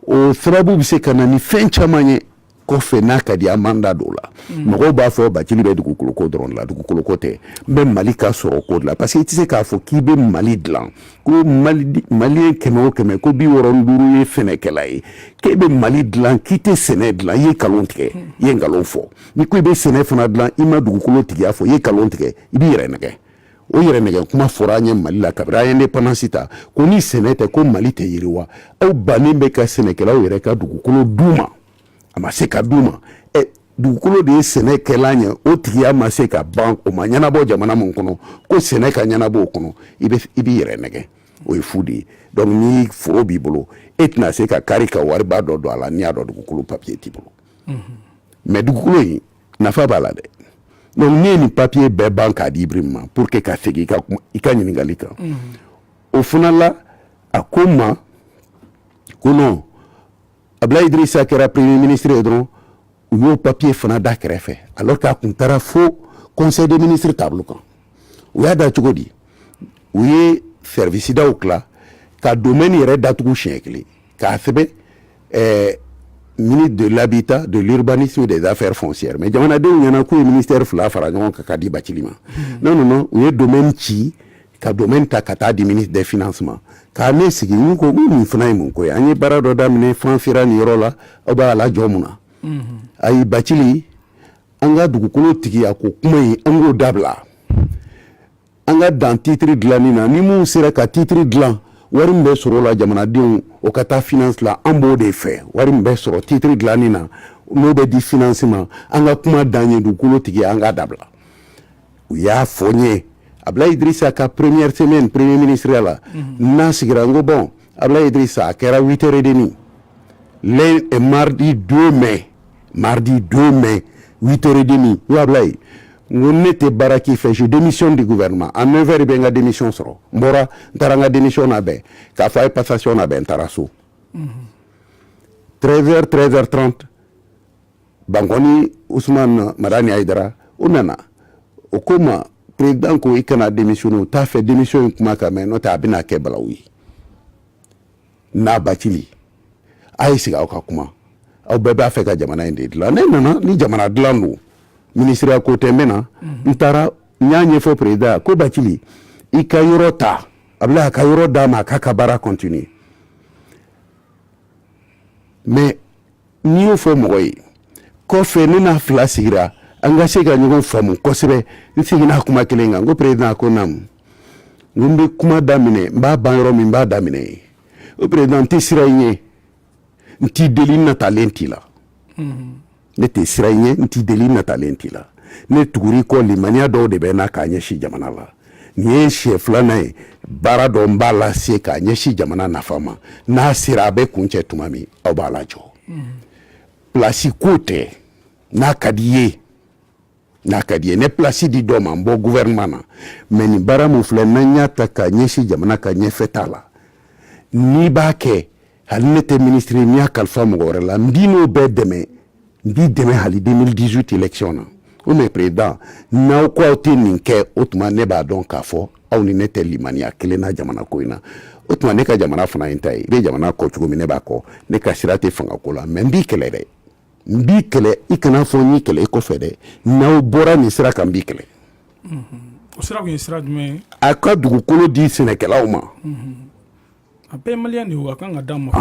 o sababu bɛ se ka na ni fɛn caman ye kɔfɛ n'a ka di an m'an da don o la mm. mɔgɔw b'a fɔ bacili bɛ dugukoloko dɔrɔn de la dugukoloko tɛ n bɛ mali ka sɔrɔ ko de la parce que i tɛ se k'a fɔ k'i bɛ mali dilan ko maliyɛn kɛmɛ o kɛmɛ ko bi wɔɔrɔ ni duuru ye sɛnɛkɛla ye k'e bɛ mali dilan k'i tɛ sɛnɛ dilan i ye nkalon tigɛ mm. i ye nkalon fɔ n'i ko i bɛ sɛnɛ fana dilan i ma dugukolo tigiya fɔ i ye nkalon tigɛ i b'i yɛrɛ nɛgɛ O yɛrɛ nɛgɛ kuma fɔra an ye mali la kabiri an ye indépendance ta ko ni sɛnɛ tɛ ko mali tɛ yiriwa aw bannen bɛ ka sɛnɛkɛlaw yɛrɛ ka dugukolo d'u ma a ma se ka d'u ma dugukolo de ye sɛnɛkɛlan ye o tigiya ma se ka ban o ma ɲɛnabɔ jamana min kɔnɔ ko sɛnɛ ka ɲɛnabɔ o kɔnɔ i b'i yɛrɛ nɛgɛ o ye fu de ye donc ni foro b'i bolo e tɛna se ka kari ka wariba dɔ don a la n'i y'a dɔn dugukolo papiye t'i bolo mais dugukolo in nafa b'a la dɛ donc ne ye nin papiye bɛɛ ban k'a di ibrahim ma pour que ka segin i ka ɲininkali kan o fana la a ko n ma ko non abdulayi idirisa kɛra premier ministre ye dɔrɔn u y'o papiye fana da kɛrɛfɛ alors k'a kun taara fo conseil des ministres tabolo kan u y'a da cogo di u ye service daw tila ka domaine yɛrɛ datugu siɲɛ kelen k'a sɛbɛn ɛɛ ministre de l'habitat de l'urbanisme des affaires foncières mais jamanadenw ɲɛna k'u ye ministère fila fara ɲɔgɔn kan ka di bacili ma non non non u ye domaine ci ka domaine ta ka taa di ministre des finances ma ka ne sigi n ko ko nin fana ye mun ko ye an ye baara dɔ daminɛ f'an sera nin yɔrɔ la aw b'a lajɔ mun na ayi bacili an ka dugukolo tigiya ko kuma in an k'o dabila an ka dan titiri dilanni na ni minnu sera ka titiri dilan wari min bɛ sɔrɔ o la jamanadenw o ka taa finance la an b'o de fɛ wari min bɛ sɔrɔ titiri dilanni na n'o bɛ di finance ma an ka kuma dan ye dugukolo tigiya an k'a dabila u y'a fɔ n ye abdoulaye idrissa ka première semaine premier ministre ya la mhm. n'a sigira n ko bon abdoulaye idrissa a kɛra 8 heures et demi le mardi 2 mai Maridi don mɛn vtoriden wula ye n ko ne tɛ baara k'i fɛ su denmisɛnmi de gufɛma a mɛn fɛ bɛ n ka denmiy sɔrɔ n bɔra n taara n ka denmiy na bɛn k'a fɔ a ye pasasiɔn na bɛn n taara so tree treɛrɛ t bankɔni mara ni a dara u nana o ko ma pered ko i kana denmiw t'a fɛ denmisɛnw in kuma ka mɛn n'o tɛ a bɛna kɛ bala ye n'a batili a ye sigi aw ka kuma aw bɛɛ b'a fɛ ka jamana in de dilan ne nana ni jamana dilan don minisiriya ko tɛ n bɛ na n taara n y'a ɲɛfɔ perezidan ko batili i ka yɔrɔ ta a bila a ka yɔrɔ d'a ma a k'a ka baara continuer mɛ n'i y'o fɔ mɔgɔ ye kɔfɛ ne n'a fila sigira an ka se ka ɲɔgɔn faamu kosɛbɛ n seginna kuma kelen kan ko perezidan a ko naamu n ko n bɛ kuma daminɛ n b'a ban yɔrɔ min n b'a daminɛ yen o perezidan n tɛ siran i ɲɛ n t'i deli n natalen t'i la ne tɛ siran i ɲɛ n t'i deli n natalen t'i la ne tugur'i kɔ limaniya dɔw de bɛ n na k'a ɲɛsin jamana la nin ye siɲɛ filanan ye baara dɔ n b'a lase k'a ɲɛsin jamana nafa ma n'a sera a bɛ kuncɛ tuma min aw b'a lajɔ plasi ko tɛ n'a ka d'i ye n'a ka d'i ye ne plasi di dɔ ma n bɔ gouvernement na mɛ nin baara min filɛ n'an y'a ta k'a ɲɛsin jamana ka ɲɛfɛtaa la n'i b'a kɛ hali ne tɛ minisiri n'i y'a kalifa mɔgɔ wɛrɛ la n b'i n'o bɛɛ dɛmɛ n b'i dɛmɛ hali 2018 election na o mɛ perezidan n'aw ko aw tɛ nin kɛ o tuma ne b'a dɔn k'a fɔ aw ni ne tɛ limaniya kelen na jamana ko in na o tuma ne ka jamana fana ye n ta ye i bɛ jamana kɔ cogo min ne b'a kɔ ne ka sira tɛ fanga ko la mɛ n b'i kɛlɛ dɛ n b'i kɛlɛ i kana fɔ n y'i kɛlɛ i kɔfɛ dɛ n'aw bɔra nin sira kan n b'i kɛlɛ o sira tun ye sira jumɛn ye a ka dugukolo di sɛnɛkɛlaw ma a bɛɛ maliyɛn de ye a kan ka d'a ma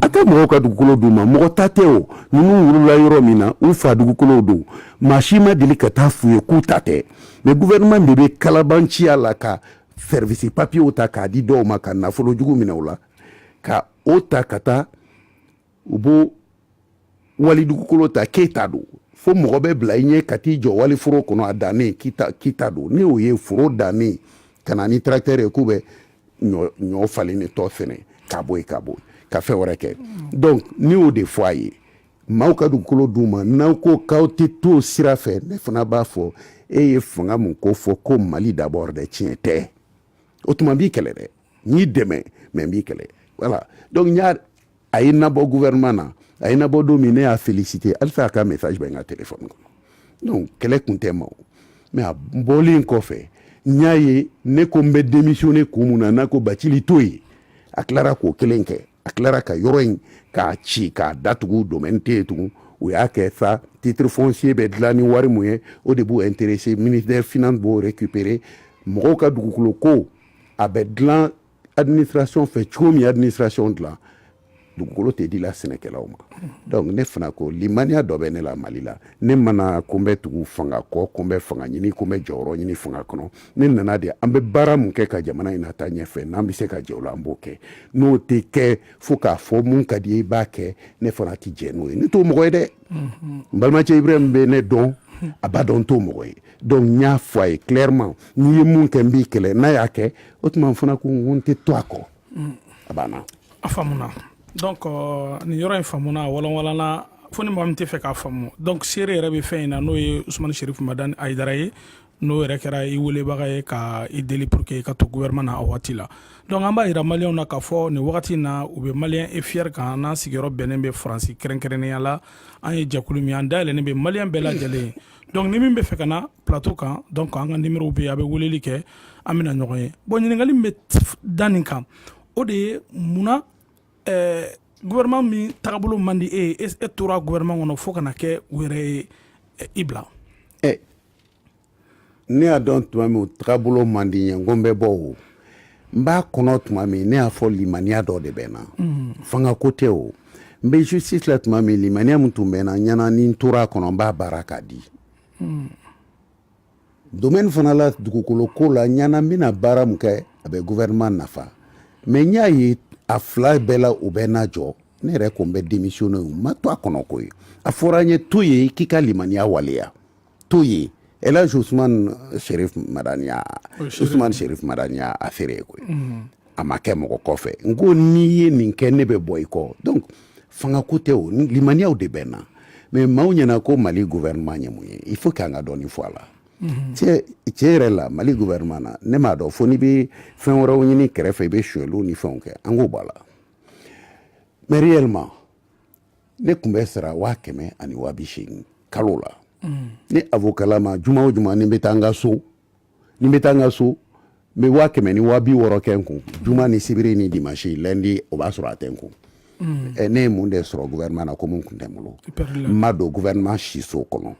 a tɛ mɔgɔw ka dugukolo d'u ma mɔgɔ ta tɛ o ninnu wolola yɔrɔ min na u fa dugukolow don maa si ma deli ka taa f'u ye k'u ta tɛ mɛ guvɛrɛnɛman de bɛ kalabanciya la ka sɛrivisi papiyew ta k'a di dɔw ma ka nafolo jugu minɛ u la ka o ta ka taa u b'o wali dugukolo ta k'e ta don fo mɔgɔ bɛ bila i ɲɛ ka t'i jɔ wali foro kɔnɔ a dannen k'i ta don ne y'o ye foro dannen ka na ni tracteur ye k'u bɛ ɲɔ falen de tɔ fɛnɛ ka bɔ yen ka bɔ ka fɛn wɛrɛ kɛ donc ne y'o de fɔ a ye maaw ka dugukolo d'u ma n'aw ko k'aw tɛ to o sira fɛ ne fana b'a fɔ e ye fanga mun ko fɔ ko mali d'abord dɛ tiɲɛ tɛ o tuma n b'i kɛlɛ dɛ n y'i dɛmɛ mɛ n b'i kɛlɛ voilà donc n y'a a ye n nabɔ gouvernement na a ye n nabɔ don min ne y'a félicité halisa a ka message bɛ n ka téléphone kɔnɔ donc kɛlɛ kun tɛ ma o mais a bɔlen kɔfɛ n y'a ye ne ko n bɛ démissionné kun mun na n'a ko batili to yen a tilara k'o kelen kɛ a tilara ka yɔrɔ in k'a ci k'a datugu domaine tɛ yen tugun u y'a kɛ sa titre foncier bɛ dilan ni wari mun ye o de b'u intéressé ministère finance b'o récupérer mɔgɔw ka dugukolo ko a bɛ dilan administration fɛ cogo min administration dilan dugukolo tɛ di la sɛnɛkɛlaw ma donc ne fana ko limaniya dɔ bɛ ne la mali la ne ma na ko n bɛ tugu fanga kɔ ko n bɛ fanga ɲini ko n bɛ jɔyɔrɔ ɲini fanga kɔnɔ ne nana de an bɛ baara min kɛ ka jamana in na taa ɲɛfɛ n'an bɛ se ka jɛ o la an b'o kɛ n'o tɛ kɛ fo k'a fɔ min ka d'i ye i b'a kɛ ne fana tɛ jɛn n'o ye ne t'o mɔgɔ ye dɛ n balimacɛ Ibrahim bɛ ne dɔn a b'a dɔn n t'o mɔgɔ ye donc n y'a fɔ a ye clairement n'i ye nin kɛ n b'i kɛlɛ n'a y'a kɛ o tuma fana ko n tɛ to a kɔ a banna a faamuna donc euh, nin yɔrɔ in faamuna walanwalanna fo ni mɔgɔ min tɛ fɛ k'a faamu donc seere yɛrɛ bɛ fɛn in na n'o ye Ousmane Cherif Madani Haïdara ye n'o yɛrɛ kɛra i welebaga ye ka i deli pour que i ka to gouvernement na a waati la donc an b'a yira maliyɛnw na k'a fɔ nin wagati na u bɛ malien et fier kan n'an sigiyɔrɔ bɛnnen bɛ faransi kɛrɛnkɛrɛnnenya la an ye jɛkulu min an dayɛlɛnnen bɛ maliyɛn bɛɛ lajɛlen donc ni min bɛ fɛ ka na plateau kan donc an ka numéro bɛ a bɛ weleli kɛ an bɛna ɲɔgɔn ye bon ɲininkali min bɛ da nin kan o de ye munna ɛɛ gouvernement min tagabolo man di e ye e tora gouvernement kɔnɔ fo ka na kɛ u yɛrɛ ye i bila ɛ ne y'a dɔn tuma min tagabolo man di n ye n ko n bɛ bɔ o n b'a kɔnɔ tuma min ne y'a fɔ limaniya dɔ de bɛ n na fanga ko tɛ o n bɛ justice la tuma min limaniya min tun bɛ n na n ɲɛ na ni n tora a kɔnɔ n b'a baara k'a di domaine fana la dugukolo ko la n ɲɛ na n bɛna baara min kɛ a bɛ gouvernement nafa mais n y'a ye a fila bɛɛ la u bɛ n najɔ ne yɛrɛ ko n bɛ démissionner n ma to a kɔnɔ koyi a fɔra n ye to yen k'i ka limaniya waleya to yen Elhadji Ousmane Cherif Madani y'a Ousmane Cherif Madani y'a seere ye koyi a ma kɛ mɔgɔ kɔfɛ n ko n'i ye nin kɛ ne bɛ bɔ i kɔ donc fanga ko tɛ o limaniyaw de bɛ n na mais maaw ɲɛ na ko mali gouvernement ye mun ye il faut k'an ka dɔɔni fɔ a la tiɲɛ yɛrɛ la mali gouvernement na ne m'a dɔn fo n'i bɛ fɛn wɛrɛw ɲini kɛrɛfɛ i bɛ sonyɛliw ni fɛnw kɛ an k'o b'a la mais réellement ne tun bɛ sara waa kɛmɛ ani waa bi seegin kalo la mm. ni avocatlama juma o juma ni n bɛ taa n ka so ni n bɛ taa n ka so n bɛ waa kɛmɛ ni waa bi wɔɔrɔ kɛ n kun juma ni sibiri ni dimansi lɛndi o b'a sɔrɔ a tɛ n kun mm. eh, ne ye mun de sɔrɔ gouvernement na ko mun kun tɛ n bolo n ma don gouvernement siso kɔnɔ n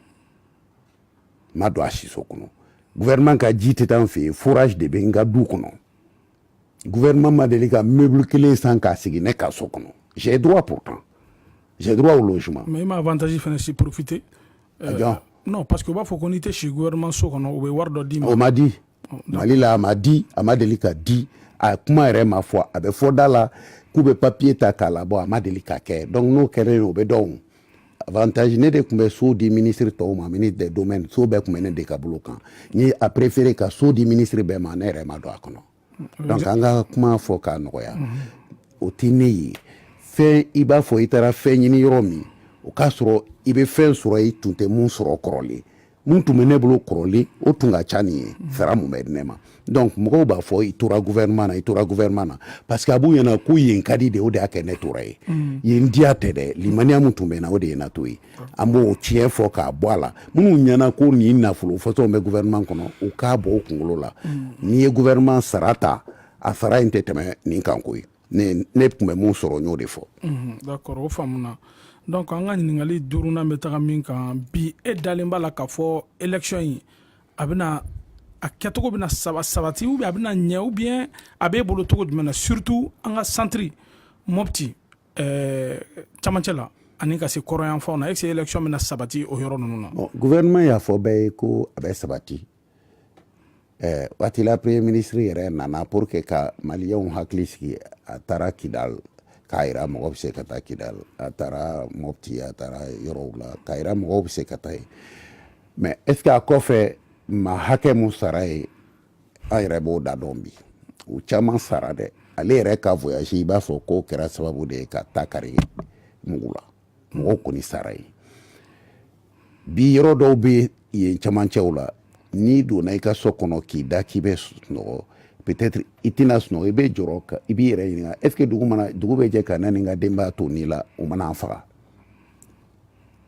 ma don a siso kɔnɔ gouvernement ka ji tɛ taa n fɛ yen forage de bɛ n ka du kɔnɔ gouvernement ma deli ka meuble kelen san k'a sigi ne ka so kɔnɔ j'ai droit pourtant j'ai droit au logement mais i ma avantage fana si profiter ah, euh, non parce que u b'a fɔ ko n'i tɛ si gouvernement so kɔnɔ u bɛ wari dɔ d'i ma o ma di oh, mali la a ma di a ma deli ka di a kuma yɛrɛ ma fɔ a bɛ fɔ da la k'u bɛ papier ta k'a labɔ a ma deli ka kɛ donc n'o kɛra yen o bɛ dɔn avantage ne de tun bɛ so di ministre tɔw ma ministre des domaines so bɛɛ tun bɛ ne de ka bolo kan n ye a préféré ka so di ministre bɛɛ ma ne yɛrɛ ma don a kɔnɔ mm-hmm. donc an ka kuma fɔ k'a nɔgɔya mm-hmm. o tɛ ne ye fɛn i b'a fɔ i taara fɛn ɲini yɔrɔ min o k'a sɔrɔ i bɛ fɛn sɔrɔ i tun tɛ mun sɔrɔ kɔrɔlen mun tun bɛ ne bolo kɔrɔlen o tun ka ca nin ye mhm. sara mun bɛ di ne ma donc mɔgɔw b'a fɔ i tora gouvernement na i tora gouvernement na parce que a b'u ɲɛna ko yen ka di de o de y'a kɛ ne tora ye mhm. yen diya tɛ dɛ limaniya min tun bɛ na o de ye na to ye an b'o tiɲɛ fɔ k'a bɔ a la minnu ɲɛna ko nin nafolo fɔtɔw bɛ gouvernement kɔnɔ u k'a bɔ u kunkolo la mhm. n'i ye gouvernement sara ta a sara in tɛ tɛmɛ nin kan koyi ne tun bɛ mun sɔrɔ n y'o de fɔ d'accord o faamuna donc an ka ɲininkali duurunan bɛ taga min kan bi e dalen b'a la k'a fɔ élection in a bɛna a kɛcogo bɛna sabati ou bien a bɛna ɲɛ ou bien a b'e bolo cogo jumɛn na surtout an ka centre mɔpti camancɛ la ani ka se kɔrɔyanfanw na est-ce que élection bɛna sabati o yɔrɔ ninnu na gouvernement y'a fɔ bɛɛ ye ko a bɛ sabati ɛɛ waati la premier ministre yɛrɛ nana pour que ka maliyɛnw hakili sigi a taara kidal k'a yira mɔgɔ bɛ se ka taa kidal a taara mɔpti a taara yɔrɔw la k'a yira mɔgɔw bɛ se ka taa yen mais est-ce que a kɔfɛ maa hakɛ mun sara ye an yɛrɛ b'o da dɔn bi u caman sara dɛ ale yɛrɛ ka voyage i b'a fɔ k'o kɛra sababu de ye ka ta kari mugu la mɔgɔw kɔni sara ye bi yɔrɔ dɔw bɛ yen camancɛw la n'i donna i ka so kɔnɔ k'i da k'i bɛ sunɔgɔ peut-être i tɛna sunɔgɔ i bɛ jɔrɔ ka i b'i yɛrɛ ɲininka est-ce que dugu mana dugu bɛ jɛ ka ne ni n ka denbaya to nin la u ma na an faga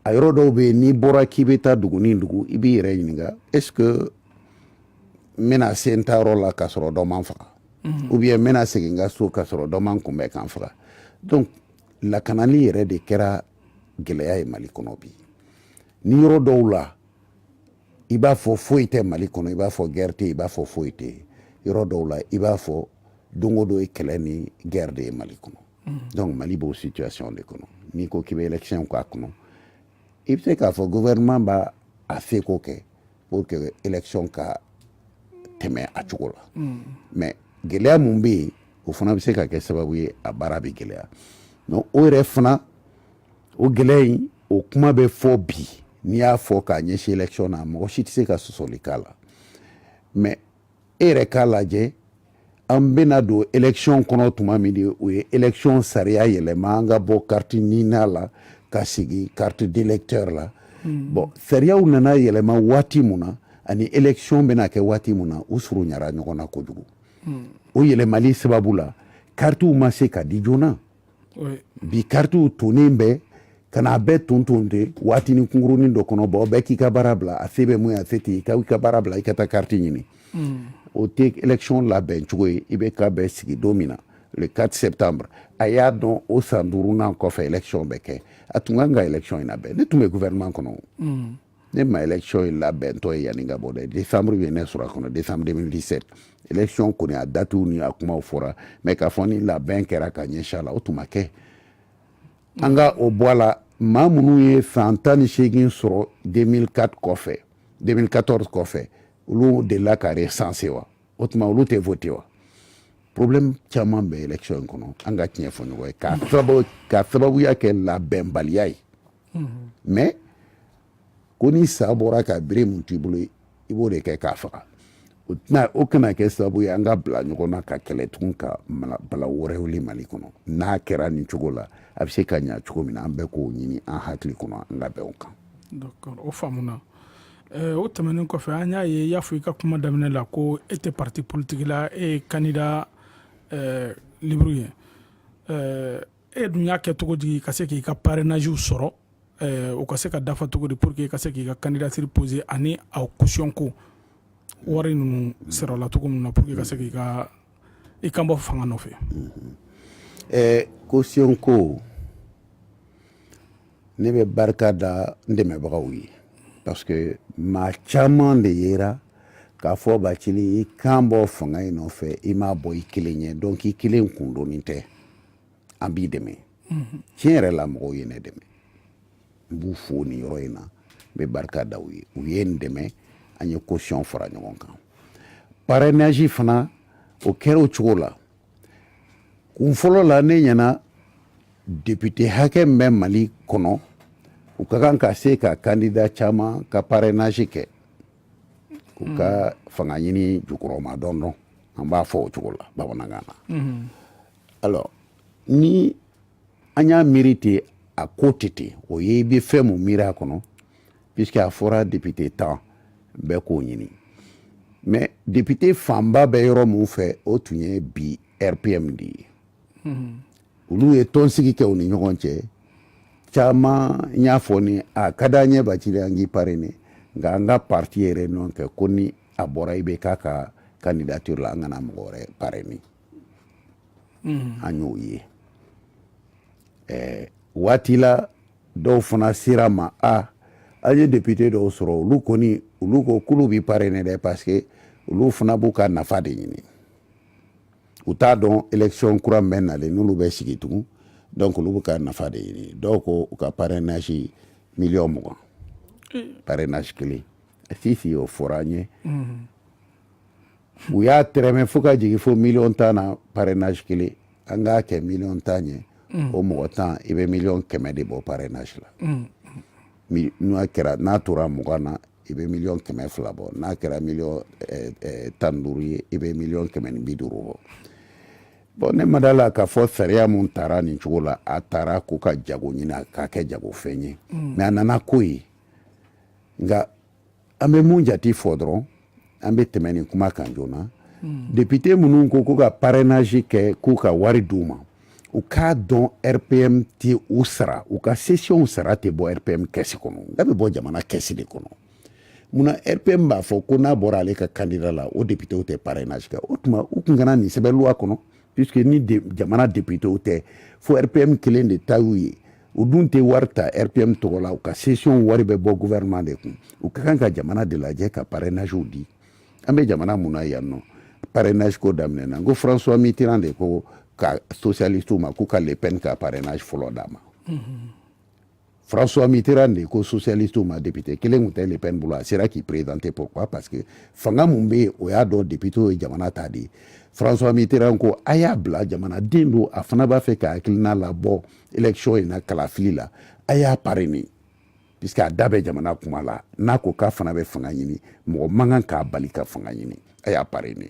a yɔrɔ dɔw bɛ yen n'i bɔra k'i bɛ taa dugu ni dugu i b'i yɛrɛ ɲininka est-ce que n bɛna se n taayɔrɔ la k'a sɔrɔ dɔ ma n faga ou bien n bɛna segin n ka so k'a sɔrɔ dɔ ma n kunbɛn ka n faga donc lakanali yɛrɛ de kɛra gɛlɛya ye mali kɔnɔ bi ni yɔrɔ dɔw la i b'a fɔ foyi tɛ mali kɔnɔ i b'a fɔ guerre tɛ i b'a fɔ foyi tɛ yɔrɔ dɔw la i b'a fɔ don o don ye kɛlɛ ni guerre de ye mali kɔnɔ mm. donc mali b'o situation de kɔnɔ n'i ko k'i bɛ élection k'a kɔnɔ i bɛ se k'a fɔ gouvernement b'a seko kɛ pour que élection ka tɛmɛ a cogo la mm. mais gɛlɛya mun bɛ yen o fana bɛ se ka kɛ sababu ye a baara bɛ gɛlɛya donc o yɛrɛ fana o gɛlɛya in o kuma bɛ fɔ bi n'i y'a fɔ k'a ɲɛsin élection na mɔgɔ si tɛ se ka sɔsɔli k'a la mais e yɛrɛ k'a lajɛ an bɛna don élection kɔnɔ tuma min de o ye élection sariya yɛlɛma an ka bɔ carte nina la ka sigi carte d'électeur la hmm. bon sariyaw nana yɛlɛma waati mun na ani élection bɛna kɛ waati mun na u surunyara ɲɔgɔn na kojugu hmm. o yɛlɛmali sababu la karitiw ma se ka di joona bi karitiw tonen bɛ ka n'a bɛɛ ton ton de waatinin kunkurunin dɔ kɔnɔ bon bɛɛ k'i ka baara bila a se bɛ mun ye a se tɛ i ka baara bila i ka taa kariti ɲini mm. o tɛ election labɛn cogo ye ibk bɛ sigi don min na le 4 septembre a y'a dɔn o san duurunan kɔfɛ election bɛ kɛ a tun kan ka election in labɛn ne tun bɛ gouvernement kɔnɔ mm. ne ma election in labɛntɔ ye yanni ka bɔ dɛ décembre ye ne sɔrɔ a kɔnɔ décembre 2017 election kɔni a datiw ni a kumaw fɔra mais k'a fɔ ni labɛn kɛra ka ɲɛsin a la o tun ma kɛ an ka o bɔ a la maa minnu ye san tan ni seegin sɔrɔ 2004 kɔfɛ 2014 kɔfɛ olu delila ka recenser wa o tuma olu tɛ voter wa problème caman bɛ election in kɔnɔ an ka tiɲɛ fɔ ɲɔgɔn ye k'a sababu k'a sababuya kɛ labɛnbaliya ye mais ko ni sa bɔra ka bere mun t'i bolo i b'o de kɛ k'a faga o kana kɛ sababu ye an ka bila ɲɔgɔn na ka kɛlɛ tugun ka bala wɛrɛ wuli mali kɔnɔ n'a kɛra nin cogo la a bɛ se ka ɲa cogo min na an bɛɛ k'o ɲini an hakili kɔnɔ an ka bɛn o kan d'accord o faamuna eh, o tɛmɛnen kɔfɛ an y'a ye i y'a fɔ i ka kuma daminɛ la ko e tɛ parti politique la e ye candidat eh, libre ye eh, e dun y'a kɛ cogo di ka se k'i ka parrainages sɔrɔ eh, o ka se ka dafa cogo di pour que i ka se k'i ka candidature poser ani a caution ko wari ninnu sɔrɔla cogo min na pour que ka se k'i ka i kan bɔ fanga nɔfɛ eh, caution ko ne bɛ barika da n dɛmɛbagaw ye parce que maa caman de yera k'a fɔ bacili i kan bɔ fanga in nɔfɛ i m'a bɔ i kelen ye donc i kelen kun doni tɛ an b'i dɛmɛ tiɲɛ yɛrɛ la mɔgɔw ye ne dɛmɛ n b'u fo nin yɔrɔ in na n bɛ barika da u ye u ye n dɛmɛ an ye caution fara ɲɔgɔn kan parrainage fana o kɛra o cogo la kun fɔlɔ la ne ɲɛna député hakɛ min bɛ mali kɔnɔ u ka kan ka se ka candidat caman ka parrainage kɛ u ka fanga ɲini jukɔrɔmadondon an b'a fɔ o cogo la bamanankan na alors ni an y'a miiri ten a ko tɛ ten o ye i bɛ fɛn mun miiri a kɔnɔ puisque a fɔra député tan bɛɛ k'o ɲini mais député fanba bɛ yɔrɔ mun fɛ o tun ye bi rpm de ye olu ye tɔnsigi kɛ u ni ɲɔgɔn cɛ caman y'a fɔ n ye a ka d'an ye bacili an k'i parrainer nka an ka parti ye réunion kɛ ko ni a bɔra ibk ka candidature la an kana mɔgɔ wɛrɛ parrainer mm-hmm. an y'o ye ɛɛ waati la dɔw fana sera ma a an ye depute dɔw sɔrɔ olu kɔni olu ko k'olu bɛ parrainer dɛ parce que olu fana b'u ka nafa de ɲini u t'a dɔn élection kura min bɛ nalen n'olu bɛ sigi tugun donc olu b'u ka nafa de ɲini dɔw ko u ka parrainage miliyɔn mugan mm. parrainage kelen sisi o fɔra an ye mm-hmm. u y'a tɛrɛmɛ fo ka jigin fo miliyɔn tan na parrainage kelen an k'a kɛ miliyɔn tan ye mm. o mɔgɔ tan i bɛ miliyɔn kɛmɛ de bɔ parrainage la mm. n'a kɛra n'a tora mugan na i bɛ miliyɔn kɛmɛ fila bɔ n'a kɛra miliyɔn eh, eh, tan ni duuru ye i bɛ miliyɔn kɛmɛ ni bi duuru bɔ bon ne ma da la k'a fɔ sariya mun taara nin cogo la a taara ko ka jago ɲini k'a kɛ jagofɛn ye mais mm. a nana k'o ye nka An bɛ mun jate fɔ dɔrɔn an bɛ tɛmɛ nin kuma kan joona hmm. depute minnu ko ko ka parrainage kɛ k'u ka wari d'u ma u k'a dɔn rpm tɛ u sara u ka sesiyɔnw sara tɛ bɔ rpm kɛsi kɔnɔ nk'a bɛ bɔ jamana kɛsi de kɔnɔ munna rpm b'a fɔ ko n'a bɔra ale ka candidat la o depitew tɛ parrainage kɛ o tuma u tun kana nin sɛbɛn loi kɔnɔ puisque ni de, jamana depitew tɛ fo rpm kelen de ta y'u ye u dun tɛ wari ta rpm tɔgɔ la u ka sesiyɔn wari bɛ bɔ gouvernement de kun u ka kan ka jamana de lajɛ ka parrainagew di an bɛ jamana mun na yan nɔ parrainage ko daminɛna n ko françois mitterrand de ko ka socialistew ma k'u ka le pen ka parrainage fɔlɔ d'a ma mm-hmm. François Mitterrand de ko socialiste ma député kelen tun tɛ Le Pen bolo a sera k'i présenter pourquoi parce que fanga mun bɛ yen o y'a dɔn député ye jamana ta de ye François Mitterrand ko a y'a bila jamanaden don a fana b'a fɛ k'a hakilina labɔ élection in na kalafili la a y'a parrainer puisque a da bɛ jamana kuma la n'a ko k'a fana bɛ fanga ɲini mɔgɔ man kan k'a bali ka fanga ɲini a y'a parrainer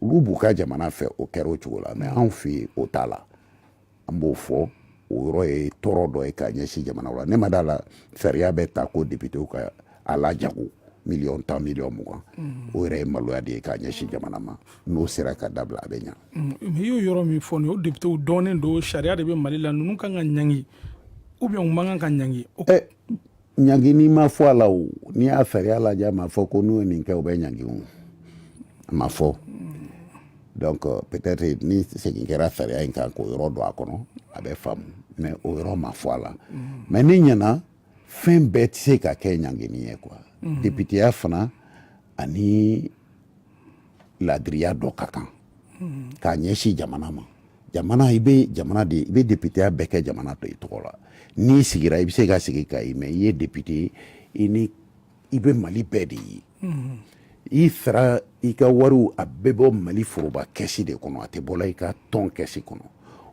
olu b'u ka jamana fɛ o kɛra o cogo la mais anw fɛ yen o t'a la an b'o fɔ o yɔrɔ ye tɔɔrɔ dɔ ye k'a ɲɛsin jamana la ne ma d'a la sariya bɛ ta ko depitew ka a lajago miliyɔn tan miliyɔn mugan mm. o yɛrɛ ye maloya de ye k'a ɲɛsin jamana ma n'o sera ka dabila a bɛ ɲa mm. i y'o yɔrɔ min fɔ nin o depitew dɔnnen don sariya de bɛ mali la ninnu kan ka ɲangi ou bien u man kan ka ɲangi eh, ɲangini ma fɔ a la o n'i y'a sariya lajɛ a ma fɔ ko n'u ye nin kɛ u bɛ ɲangi o a ma fɔ donc euh, peut-être ni segin kɛra sariya in kan k'o yɔrɔ don a kɔnɔ a bɛ faamu mais o yɔrɔ ma fɔ a la mais ne ɲɛna fɛn bɛɛ tɛ se ka kɛ ɲangini ye quoi mm-hmm. depiteya fana ani laadiriya dɔ ka kan k'a ɲɛsin jamana ma jamana i bɛ jamana de i bɛ depiteya bɛɛ kɛ jamana tɔ tɔgɔ la n'i sigira i bɛ se ka sigi kayi mais i ye depite i ni i bɛ mali bɛɛ de ye i sara i ka wariw a bɛɛ bɔ mali foroba kɛsi de kɔnɔ a tɛ bɔla i ka tɔn kɛsi kɔnɔ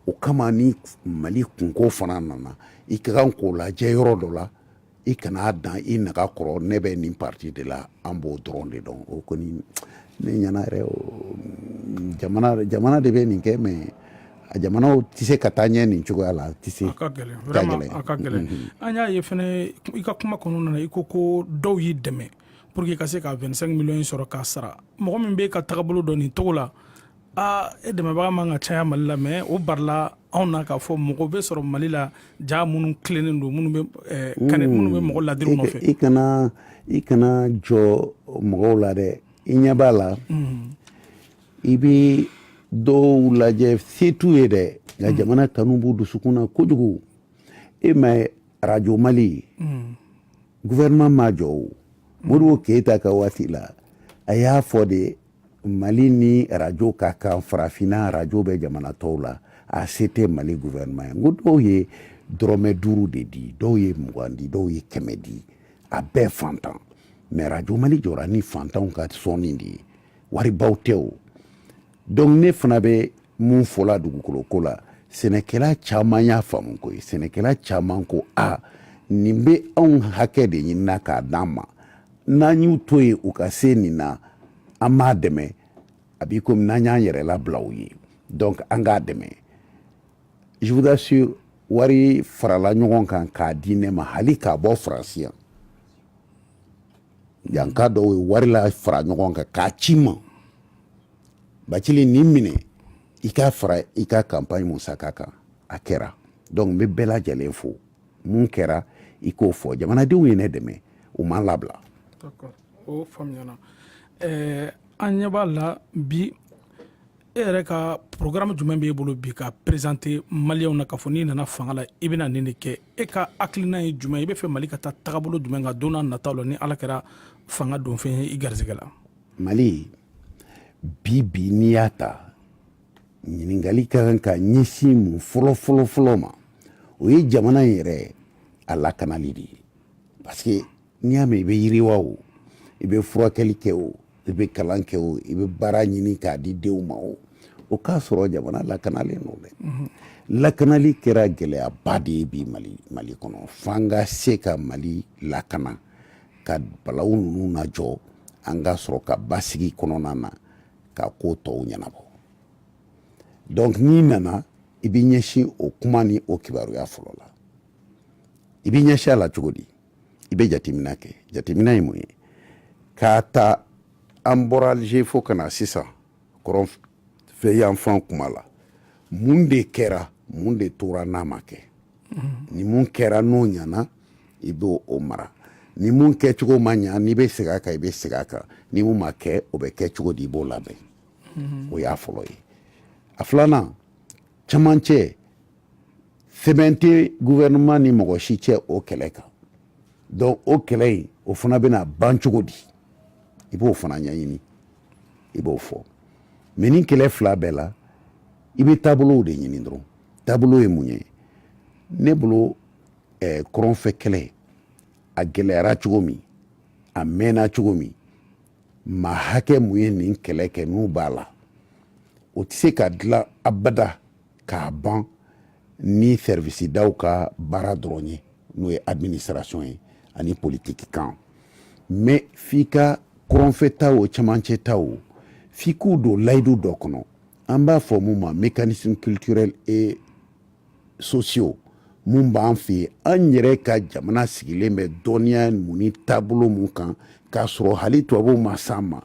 o kama ni mali kunko fana nana i ka kan k'o lajɛ yɔrɔ dɔ la i kana dan i naga kɔrɔ ne bɛ nin parti de la an b'o dɔrɔn de dɔn o kɔni ne ɲɛna yɛrɛ jamana de bɛ nin kɛ mais a jamanaw tɛ se ka taa ɲɛ nin cogoya la tɛ se a ka gɛlɛn a ka gɛlɛn mm-hmm. an y'a ye fɛnɛ i ka kuma kɔnɔna na i ko ko dɔw y'i dɛmɛ pour que i ka se ka 25 millions sɔrɔ k'a sara mɔgɔ min bɛ i ka tagabolo dɔn nin cogo la aa e dɛmɛbaga man ka caya mali la mais o barila anw na k'a fɔ mɔgɔ bɛ sɔrɔ mali la jaa minnu tilennen don minnu bɛ mɔgɔ ladiri nɔfɛ i kana i kana jɔn mɔgɔw la dɛ i ɲɛ b'a la i bɛ dɔw lajɛ se t'u ye dɛ nka jamana kanu b'u dusukun na kojugu e m'a ye arajo mali gouvernement m'a jɔ o modibo keyita ka waati la a y'a fɔ de mali ni arajo ka kan farafinna arajo bɛ jamana tɔw la a se tɛ mali gouvernement ye n ko dɔw ye dɔrɔmɛ duuru de di dɔw ye mugan di dɔw ye kɛmɛ di a bɛɛ fantan mais arajo mali jɔra ni fantanw ka sɔnni de ye waribaw tɛ o donc ne fana bɛ min fɔla dugukolo ko la sɛnɛkɛla caman y'a faamu koyi sɛnɛkɛla caman ko a nin bɛ anw hakɛ de ɲinina k'a d'an ma n'an y'u to yen u ka se nin na an m'a dɛmɛ a b'i komi n'an y'an yɛrɛ labila u ye donc an k'a dɛmɛ je vous assure wari farala ɲɔgɔn kan k'a di ne ma hali k'a bɔ faransi yan yanka dɔw ye wari lafara ɲɔgɔn kan k'a ci n ma Bacili nin minɛ i k'a fara i ka campagne musaka kan a kɛra donc n bɛ bɛɛ lajɛlen fo mun kɛra i k'o fɔ jamanadenw ye ne dɛmɛ u ma n labila o faamuyara an ɲɛ b'a la bi e yɛrɛ ka programme jumɛn b'i bolo bi ka présenter maliyɛnw na k'a fɔ n'i nana fanga la i bɛna nin de kɛ e ka hakilina ye jumɛn i b'a fɛ mali ka taa tagabolo jumɛn kan don nataw la ni ala kɛra fanga donfɛn ye i garisɛgɛ la mali bi bi n'i y'a ta ɲininkali ka kan ka ɲɛsin mun fɔlɔ fɔlɔ fɔlɔ ma o ye jamana in yɛrɛ a lakanali de ye parce que n'i y'a mɛn i bɛ yiriwa o i bɛ furakɛli kɛ o i bɛ kalan kɛ o i bɛ baara ɲini k'a di denw ma o o k'a sɔrɔ jamana lakanalen don dɛ mhm. lakanali kɛra gɛlɛyaba de ye bi mali mali kɔnɔ f'an ka se ka mali lakana ka balawu ninnu najɔ an ka sɔrɔ ka basigi kɔnɔna na ka ko tɔw ɲɛnabɔ donc n'i nana i bɛ ɲɛsin o kuma ni o kibaruya fɔlɔ la i bɛ ɲɛsin a la cogo di i bɛ jateminɛ kɛ jateminɛ ye mun ye k'a ta an bɔra alger fo ka na sisan kɔrɔnfɛ yanfan kuma la mun de kɛra mun de tora n'a ma kɛ ni mun kɛra n'o ɲana i b'o o mara ni mun kɛcogo ma ɲa n'i bɛ segin a kan i bɛ segin a kan ni mun ma kɛ o bɛ kɛ cogo di i b'o labɛn o y'a fɔlɔ ye a filanan camancɛ sɛbɛn tɛ gouvernement ni mɔgɔ si cɛ o kɛlɛ kan donc o kɛlɛ in o fana bɛna ban cogo di i b'o fana ɲɛɲini i b'o fɔ mais nin kɛlɛ fila bɛɛ la i bɛ taabolow de ɲini dɔrɔn taabolo ye mun ye ne bolo eh, kɔrɔnfɛ kɛlɛ a gɛlɛyara cogo min a mɛnna cogo min maa hakɛ mun ye nin kɛlɛ kɛ n'u b'a la o tɛ se ka dilan abada k'a ban ni sɛriwisidaw ka baara dɔrɔn ye n'o ye administration ye ani politiki kan mais f'i ka kɔrɔnfɛ ta o cɛmancɛ ta o f'i k'u don layidu dɔ kɔnɔ an b'a fɔ min ma mécanismes culturels et sociaux min b'an fɛ yen an yɛrɛ ka jamana sigilen bɛ dɔnniya min ni taabolo min kan k'a sɔrɔ hali tubabuw ma s'an ma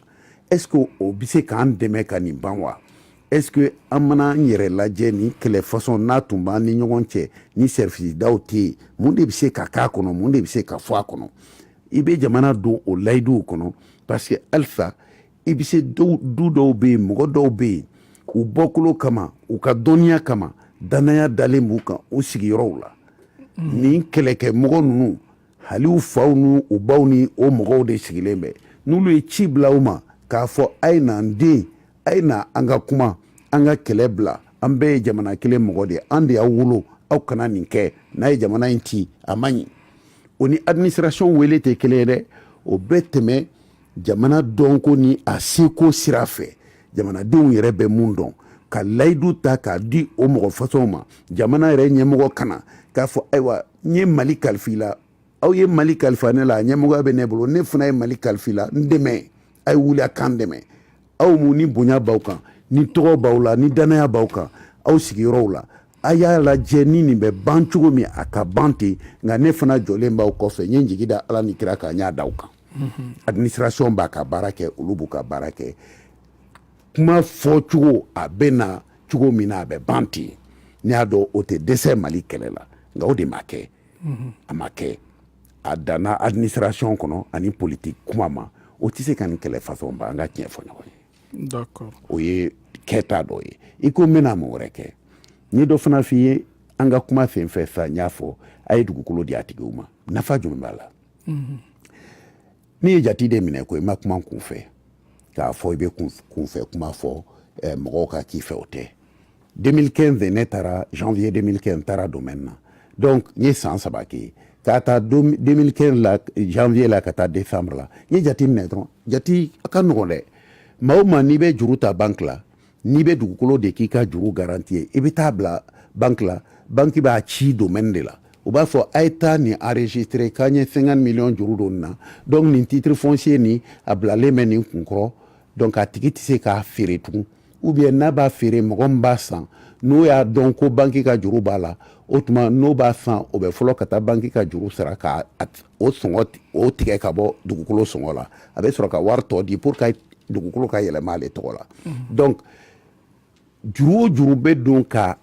est-ce que o bɛ se k'an dɛmɛ ka nin ban wa est-ce que an mana an yɛrɛ lajɛ nin kɛlɛ fasɔn n'a tun b'an ni ɲɔgɔn cɛ ni sɛriwisidaw tɛ yen mun de bɛ se ka k'a kɔnɔ mun de bɛ se ka fɔ a kɔnɔ i bɛ jamana don o layiduw kɔnɔ parce que halisa i bɛ se du dɔw bɛ yen mɔgɔ dɔw bɛ yen u bɔkolo kama u ka dɔnniya kama dannaya dalen b'u kan u sigiyɔrɔw la nin kɛlɛkɛmɔgɔ ninnu hali u faw ni u baw ni o mɔgɔw de sigilen bɛ n'olu ye ci bila u ma k'a fɔ a ye n'an den a ye na an ka kuma an ka kɛlɛ bila an bɛɛ ye jamana kelen mɔgɔ de ye an de y'aw wolo aw kana nin kɛ n'a ye jamana in ci a man ɲi o ni administration wele tɛ kelen ye dɛ o bɛ tɛmɛ jamana dɔnko ni a seko sira fɛ jamanadenw yɛrɛ bɛ mun dɔn ka layidu ta k'a di o mɔgɔ fasɔnw ma jamana yɛrɛ ɲɛmɔgɔ ka na k'a fɔ ayiwa n ye mali kalifa i la aw ye mali kalifa ne la ɲɛmɔgɔya bɛ ne bolo ne fana ye mali kalifa i la n dɛmɛ a ye wuli a k'an dɛmɛ aw mun ni bonya b'aw kan ni tɔgɔ b'aw la ni dannaya b'aw kan aw sigiyɔrɔw la a y'a lajɛ ni nin bɛ ban cogo min a ka ban ten nka ne fana jɔlen b'aw kɔfɛ n ye n jigi da ala ni kira kan n y'a da aw kan administration b'a ka baara kɛ olu b'u ka baara kɛ kuma fɔ cogo a bɛ na cogo min na a bɛ ban ten n y'a dɔn o tɛ dɛsɛ mali kɛlɛ la nka o de ma kɛ a ma kɛ a danna administration kɔnɔ ani politique kuma ma o tɛ se ka nin kɛlɛ façon ban an ka tiɲɛ fɔ ɲɔgɔn ye d'accord o ye kɛta dɔ ye i ko n bɛna mun wɛrɛ kɛ n ye dɔ fana f'i ye an ka kuma sen fɛ sa n y'a fɔ a ye dugukolo di a tigiw ma nafa jumɛn b'a la n'i ye jati de minɛ ko i ma kuma kun fɛ k'a fɔ i bɛ kunfɛ kuma fɔ eh, mɔgɔw ka k'i fɛ o tɛ 2015 ne taara janvier 2015 n taara domaine na donc n ye san saba kɛ k'a ta 2015 la janvier la ka taa décembre la n ye jati minɛ dɔrɔn jati a ka nɔgɔn dɛ maa o maa n'i bɛ juru ta banque la n'i bɛ dugukolo de k'i ka juru garanti ye i bɛ taa bila banki la banki b'a ci domaine de la u b'a fɔ a ye taa nin enregistrer k'an ye 50 miliyɔn juru don nin na donc nin titre foncier nin a bilalen bɛ nin kun kɔrɔ donc a tigi tɛ se k'a feere tugun ou bien n'a b'a feere mɔgɔ min b'a san n'o y'a dɔn ko banki ka juru b'a la o tuma n'o b'a san o bɛ fɔlɔ ka taa banki ka juru sara ka o sɔngɔ o tigɛ ka bɔ dugukolo sɔngɔ la a bɛ sɔrɔ ka wari tɔ di pour que dugukolo ka yɛlɛma ale tɔgɔ la donc juru o juru bɛ don ka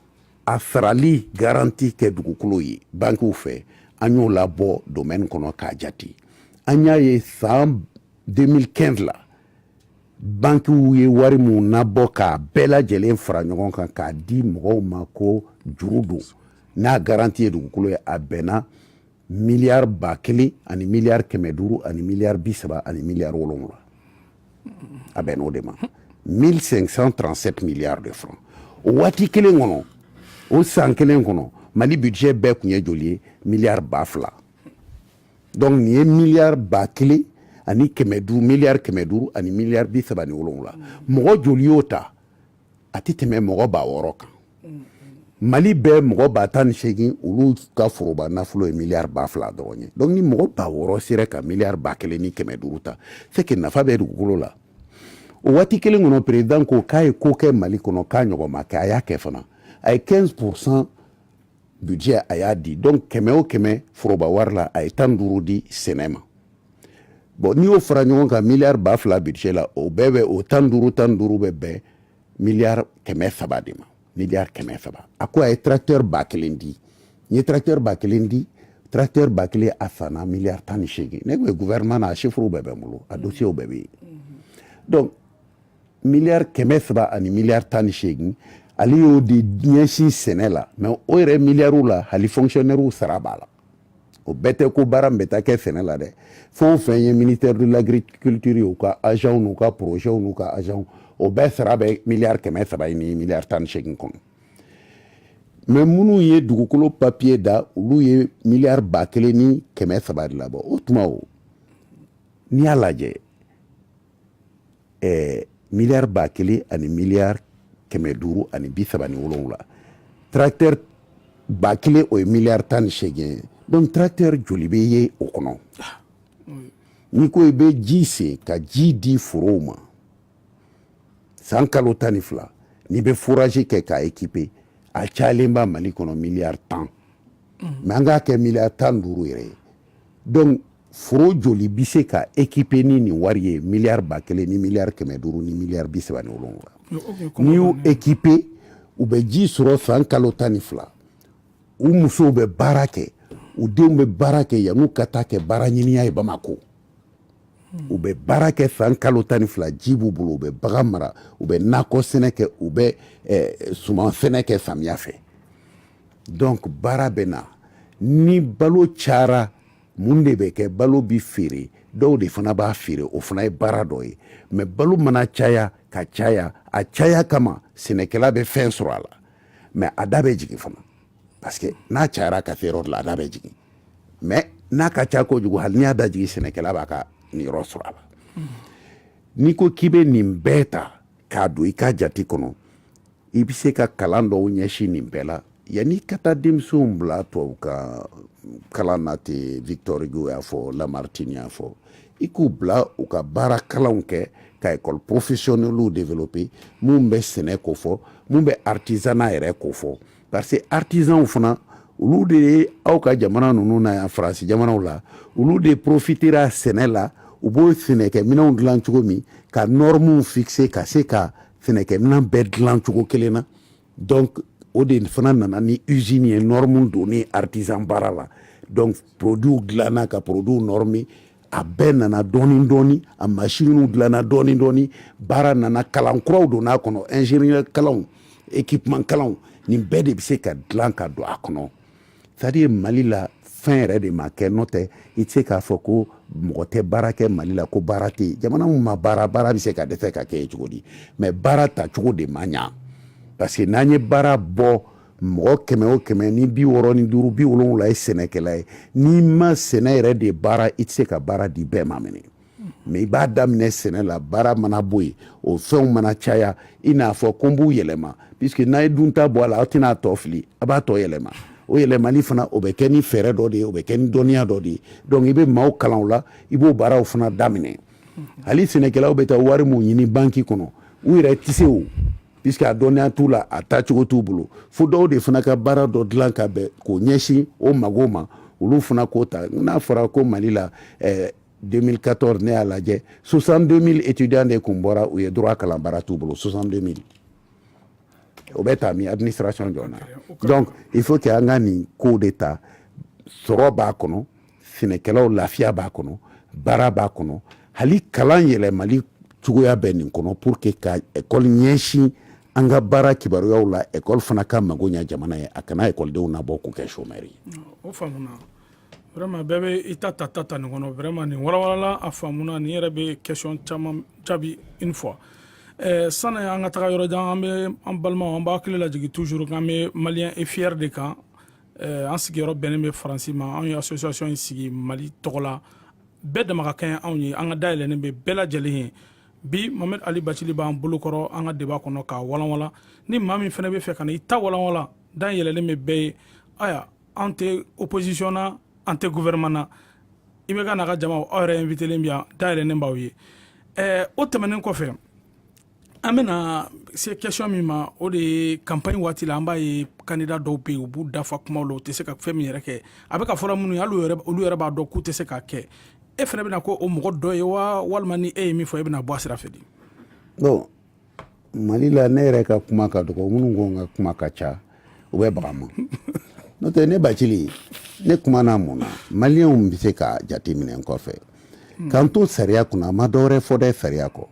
a sarali garanti kɛ dugukolo ye bankiw fɛ an y'o labɔ domaine kɔnɔ k'a jate an y'a ye san 2015 la bankiw ye wari min nabɔ k'a bɛɛ lajɛlen fara ɲɔgɔn kan k'a di mɔgɔw ma ko juru don n'a garanti ye dugukolo ye a bɛnna miliyari ba kelen ani miliyari kɛmɛ duuru ani miliyari bi saba ani miliyari wolonwula a bɛnn'o de ma 1537 miliyari de francs o waati kelen kɔnɔ o san kelen kɔnɔ mali budget bɛɛ tun ye joli ye miliyari ba fila donc nin ye miliyari ba kelen ani kɛmɛ duuru miliyari kɛmɛ duuru ani miliyari bi saba ni wolonwula mɔgɔ joli y'o ta a tɛ tɛmɛ mɔgɔ ba wɔɔrɔ kan mali bɛɛ mɔgɔ ba tan ni seegin olu ka foroba nafolo ye miliyari ba fila dɔrɔn ye donc ni mɔgɔ ba wɔɔrɔ sera ka miliyari ba kelen ni kɛmɛ duuru ta c'est que nafa bɛ dugukolo la o waati kelen kɔnɔ perezidan ko k'a ye ko kɛ mali kɔnɔ k'a ɲɔgɔn ma kɛ a y'a kɛ fana a ye 15 pourcent budget a y'a di donc kɛmɛ o kɛmɛ foroba wari la a ye tan ni duuru di sɛnɛ ma bon n'i y'o fara ɲɔgɔn kan miliyari ba fila budget la o bɛɛ bɛ o tan ni duuru tan ni duuru bɛ bɛn miliyari kɛmɛ saba de ma miliyari kɛmɛ saba a ko a ye tracteur ba kelen di n ye tracteur ba kelen di tracteur ba kelen a sanna miliyari tan ni seegin ne tun ye gouvernement na a chiffres bɛɛ bɛ n bolo a dossier bɛɛ bɛ yen donc miliyari kɛmɛ saba ani miliyari tan ni seegin ale y'o de ɲɛsin sɛnɛ la mais o yɛrɛ miliyariw la hali fonctionnairew sara b'a la o bɛɛ tɛ ko baara min bɛ taa kɛ sɛnɛ la dɛ fɛn o fɛn ye ministère de l'agriculture ye u ka agents n'u ka projets n'u ka agents o bɛɛ sara bɛ miliyari kɛmɛ saba ye ni miliyari tan ni seegin kɔnɔ mɛ minnu ye dugukolo papiye da olu ye miliyari ba kelen ni kɛmɛ saba de labɔ o tuma o n'i y'a lajɛ ɛɛ miliyari ba kelen ani miliyari kɛmɛ duuru ani bi saba ni wolonwula tracteur ba kelen o ye miliyari tan ni seegin ye donc tracteur joli bɛ ye o kɔnɔ n'i ko i bɛ ji sen ka ji di forow ma san kalo tan ni fila n'i bɛ forazi kɛ k'a ekipe a cayalenba mali kɔnɔ miliyari tan mɛ an k'a kɛ miliyari tan ni duuru yɛrɛ ye donc foro joli bɛ se ka ekipe ni nin wari ye miliyari ba kelen ni miliyari kɛmɛ duuru ni miliyari bi saba ni wolonwula n'i y'u ekipe u bɛ ji sɔrɔ san kalo tan ni fila u musow bɛ baara kɛ u denw bɛ baara kɛ yan'u ka taa kɛ baara ɲiniya ye bamako u bɛ baara kɛ san kalo tan ni fila ji b'u bolo u bɛ bagan mara u bɛ nakɔ sɛnɛ kɛ u bɛ eh, suman sɛnɛ kɛ samiya fɛ donc baara bɛ na ni balo cayara mun de bɛ kɛ balo bɛ feere dɔw de fana b'a feere o fana ye baara dɔ ye mɛ balo mana caya ka caya a caya kama sɛnɛkɛla bɛ fɛn sɔrɔ a la mɛ a da bɛ jigin fana parce que n'a cayara ka se yɔrɔ dɔ la a da bɛ jigin mɛ n'a ka ca kojugu hali n'i y'a da jigin sɛnɛkɛla b'a ka niyɔrɔ sɔrɔ a la n'i ko k'i bɛ nin bɛɛ ta k'a don i ka jate kɔnɔ i bɛ se ka kalan dɔw ɲɛsin nin bɛɛ la yanni i ka taa denmisɛnw bila tubabu ka kalan na ten victor hugo y'a fɔ lamartine y'a fɔ i k'u bila u ka baara kalanw kɛ ka ekɔli professionnels développer mun bɛ sɛnɛ ko fɔ mun bɛ artisanat yɛrɛ ko fɔ parce que artisanw fana olu de ye aw ka jamana ninnu na yan faransi jamanaw la olu de profitera sɛnɛ la u b'o sɛnɛkɛminɛnw dilan cogo min ka nɔrɔmuw fixe ka se ka sɛnɛkɛminɛn bɛɛ dilan cogo kelen na donc o de fana nana ni usine ye nɔrɔmu donni artisan baara la donc produit dilanna ka produit nɔrɔmi a bɛɛ nana dɔɔnin dɔɔnin a masinw dilanna dɔɔnin dɔɔnin baara nana kalan kuraw donna a kɔnɔ ingénieur kalan équipement kalan nin bɛɛ de bɛ se ka dilan ka don a kɔnɔ c'est-à-dire mali la fɛn yɛrɛ de ma kɛ n'o tɛ i tɛ se k'a fɔ ko mɔgɔ tɛ baara kɛ mali la ko baara tɛ yen jamana ma baara baara bɛ se ka dɛsɛ ka kɛ cogo di mɛ baara ta cogo de ma ɲɛ parce que n'an ye baara bɔ mɔgɔ kɛmɛ o kɛmɛ ni bi wɔɔrɔ ni duuru bi wolonwula ye sɛnɛkɛla ye n'i ma sɛnɛ yɛrɛ de baara i tɛ se ka baara di bɛɛ ma minɛ mais i b'a daminɛ sɛnɛ la baara mana bɔ yen o fɛnw mana caya i n'a fɔ ko n b'u yɛlɛma puisque n'a ye dunta bɔ a la aw tɛna a tɔ fili a b'a tɔ yɛlɛma o yɛlɛmali fana o bɛ kɛ ni fɛɛrɛ dɔ de ye o bɛ kɛ ni dɔnniya dɔ de ye donc i bɛ maaw kalan o la i b'o baaraw fana daminɛ hali sɛnɛkɛlaw bɛ taa wari mun ɲini banki kɔnɔ u yɛrɛ tɛ se o puisque a dɔnniya t'u la a tacogo t'u bolo fo dɔw de fana ka baara dɔ dilan ka bɛn k'o ɲɛsin o mago ma olu fana k'o ta n'a fɔra ko mali la eh, 2014 ne y'a lajɛ 62 000 étudiants de kun bɔra u ye droit kalan baara t'u bolo 62 000 o bɛ taa min administration jɔn na donc il faut que an ka nin kow de ta sɔrɔ b'a kɔnɔ sɛnɛkɛlaw lafiya b'a kɔnɔ baara b'a kɔnɔ hali kalan yɛlɛmali cogoya bɛ nin kɔnɔ pour que ka ekɔli ɲɛsin an ka baara kibaruyaw la ekɔli fana ka mago ɲɛ jamana ye a kana ekɔlidenw nabɔ k'u kɛ chômeur ye. o faamuna vraiment bɛɛ bɛ i ta ta ta ta nin kɔnɔ vraiment nin walawalala a faamuna nin yɛrɛ bɛ question caman jaabi une fois eh, sani an ka taga yɔrɔ jan an bɛ an balimaw an b'a hakili lajigin toujours k'an bɛ malien et fier de kan eh, an sigiyɔrɔ bɛnnen bɛ faransi ma anw ye association in sigi mali tɔgɔ la bɛɛ dama ka kɛɲɛ anw ye an ka da yɛlɛnnen bɛ bɛɛ lajɛlen ye bi mohamed ali bacili b'an bolokɔrɔ an ka débat kɔnɔ k'a walanwalan ni maa min fana bɛ fɛ ka na i ta walanwalan da yɛlɛlen bɛ bɛɛ ye aya an tɛ opposition na an tɛ gouvernement na ibk n'a ka jamaw aw yɛrɛ invitelen bi yan da yɛlɛnnen b'aw ye o tɛmɛnen kɔfɛ an bena se question min ma o de ye campagne waati la an b'a ye candidat dɔw be yen u b'u da fa kumaw la u tɛ se ka fɛn min yɛrɛ kɛ a be ka fɔla minnu ye hali olu yɛrɛ b'a dɔn k'u tɛ se k'a kɛ e fana bena kɛ o mɔgɔ dɔ ye wa walima ni e ye min fɔ e bena bɔ a sira fɛ di bon mali la ne yɛrɛ ka kuma ka dɔgɔ minnu ko n ka kuma ka ca u bɛ baga ma n'o tɛ ne bacili ne kumana mun na maliyɛnw be se ka jateminɛ n kɔfɛ k'an to sariya kunna n ma dɔwɛrɛ fɔ dɛ sariya kɔ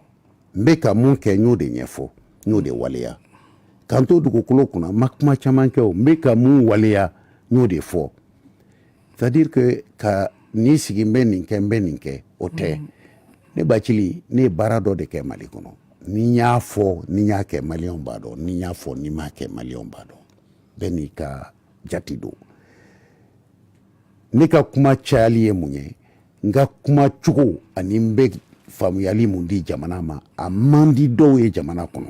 n bɛ ka mun kɛ n y'o de ɲɛfɔ n y'o de waleya k'an to dugukolo kunna n ma kuma caman kɛ o n bɛ ka mun waleya n y'o de fɔ c'est à dire que ka n'i sigi n bɛ nin kɛ n bɛ nin kɛ o tɛ mm. ne bacili ne ye baara dɔ de kɛ mali kɔnɔ ni n y'a fɔ ni n y'a kɛ maliyɛnw b'a dɔn ni n y'a fɔ ni n m'a kɛ maliyɛnw b'a dɔn bɛɛ n'i ka jati don ne ka kuma cayali ye mun ye n ka kuma cogo ani n bɛ faamuyali mun di jamana ma a man di dɔw ye jamana kɔnɔ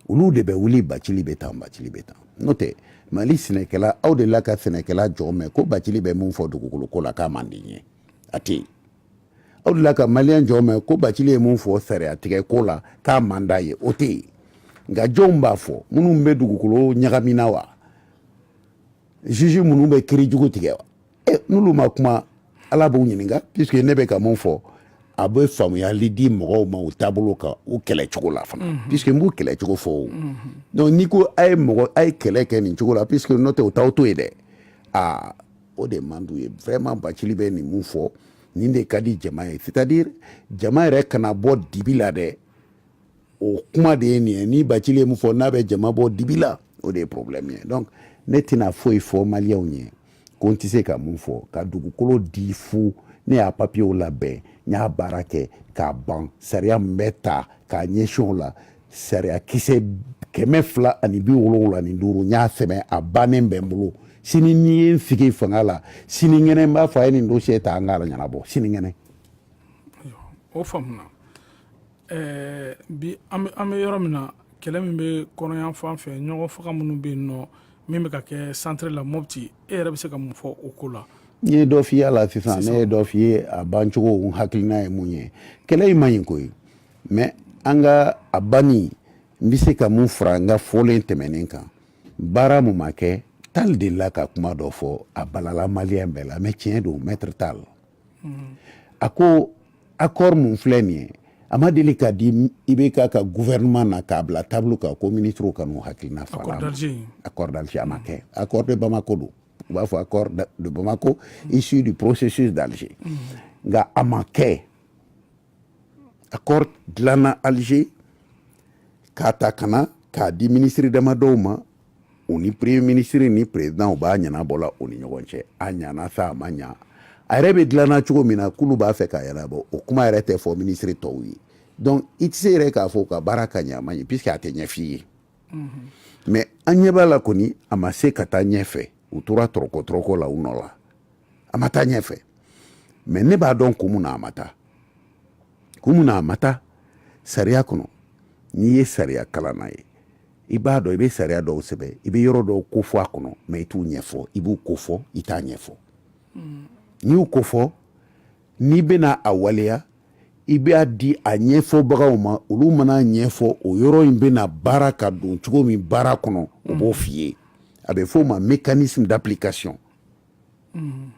olu de bɛ wuli bacili bɛ tan bacili bɛ tan n'o tɛ mali sɛnɛkɛla aw delila ka sɛnɛkɛla jɔn mɛn ko bacili bɛ mun fɔ dugukolo ko la k'a man di n ye a tɛ yen aw delila ka maliyɛn jɔn mɛn ko bacili ye mun fɔ sariya tigɛ ko la k'a man d'a ye o tɛ yen nka jɔnw b'a fɔ minnu bɛ dugukolo ɲagamina wa juge minnu bɛ kiri jugu tigɛ wa e n'olu ma kuma ala b'u ɲininka puisque ne bɛ ka mun fɔ a bɛ faamuyali di mɔgɔw ma u taabolo kan u kɛlɛ cogo la fana mhm. puisque n b'u kɛlɛ cogo fɔ o mhm. donc n'i ko a ye mɔgɔ a ye kɛlɛ kɛ nin cogo la puisque n'o tɛ u t'aw to yen dɛ aa o de man d'u ye vraiment bacili bɛ nin mun fɔ nin de ka di jama ye c'est à dire jama yɛrɛ kana bɔ dibi la dɛ o kuma de ye nin ye ni bacili ye mun fɔ n'a bɛ jama bɔ dibi la o de ye problème ye donc ne tɛna foyi fɔ maliyɛnw ye ko n tɛ se ka mun fɔ ka dugukolo di fu ne y'a papiyew labɛn n y'a baara kɛ k'a ban sariya min bɛ ta k'a ɲɛsin o la sariya kisɛ kɛmɛ fila ani bi wolonwula ni duuru n y'a sɛbɛn a bannen bɛ n bolo sini n'i ye n sigi fanga la sinikɛnɛ n b'a fɔ a ye nin dosiye ta an k'a ɲɛnabɔ sinikɛnɛ o faamuna ɛɛ bi an bɛ an bɛ yɔrɔ min na kɛlɛ min bɛ kɔrɔn yanfan fɛ ɲɔgɔn faga minnu bɛ yen nɔ min bɛ ka kɛ centre la mɔpti e yɛrɛ bɛ se ka mun fɔ o ko la. n ye dɔ f'i ye a la sisan ne ye dɔ f'i ye a bancogo n hakilina ye mun ye kɛlɛ in man ɲi koyi mɛ an ka a banni n bɛ se ka mun fara n ka fɔlen tɛmɛnen kan baara mun ma kɛ tali delila ka kuma dɔ fɔ a balala maliyɛn bɛɛ la mɛ tiɲɛ don mɛtiri tali a ko accord mun filɛ nin ye a ma deli k'a di IBK ka gouvernement na k'a bila table kan ko ministrew ka n'u hakilina fɔ a la accord d'Alger a ma kɛ accord de Bamako don u b'a fɔ accord de Bamako issu du processus d'Alger nka a ma kɛ accord dilanna Alger k'a ta ka na k'a di ministre damadɔw ma u ni premier ministre ni président u b'a ɲɛnabɔ la u ni ɲɔgɔn cɛ a ɲana sa a ma ɲa a yɛrɛ bɛ dilanna cogo min na k'olu b'a fɛ k'a ɲɛnabɔ o kuma yɛrɛ tɛ fɔ ministre tɔw ye donc i tɛ se yɛrɛ k'a fɔ ka baara ka ɲɛ a ma ɲɛ puisque a tɛ ɲɛf'i ye mais an ɲɛ b'a la kɔni a ma se ka taa ɲɛfɛ u tora tɔrɔkɔ tɔrɔkɔ la u nɔ la a ma taa ɲɛfɛ mais ne b'a dɔn kun mun na a ma taa kun mun na a ma taa sariya kɔnɔ n'i ye sariya kalanna ye i b'a dɔn i bɛ sariya dɔw sɛbɛn i bɛ yɔrɔ dɔw kofɔ a kɔnɔ mɛ i t'u ɲɛfɔ i b'u kofɔ i t'a ɲɛfɔ hmm. n'i y'u kofɔ n'i bɛna a waleya i b'a di a ɲɛfɔbagaw ma olu man'a ɲɛfɔ o yɔrɔ in bɛna baara ka don cogo min baara kɔnɔ o b'o hmm. f'i ye a bɛ f'o ma mécanisme d'application mm.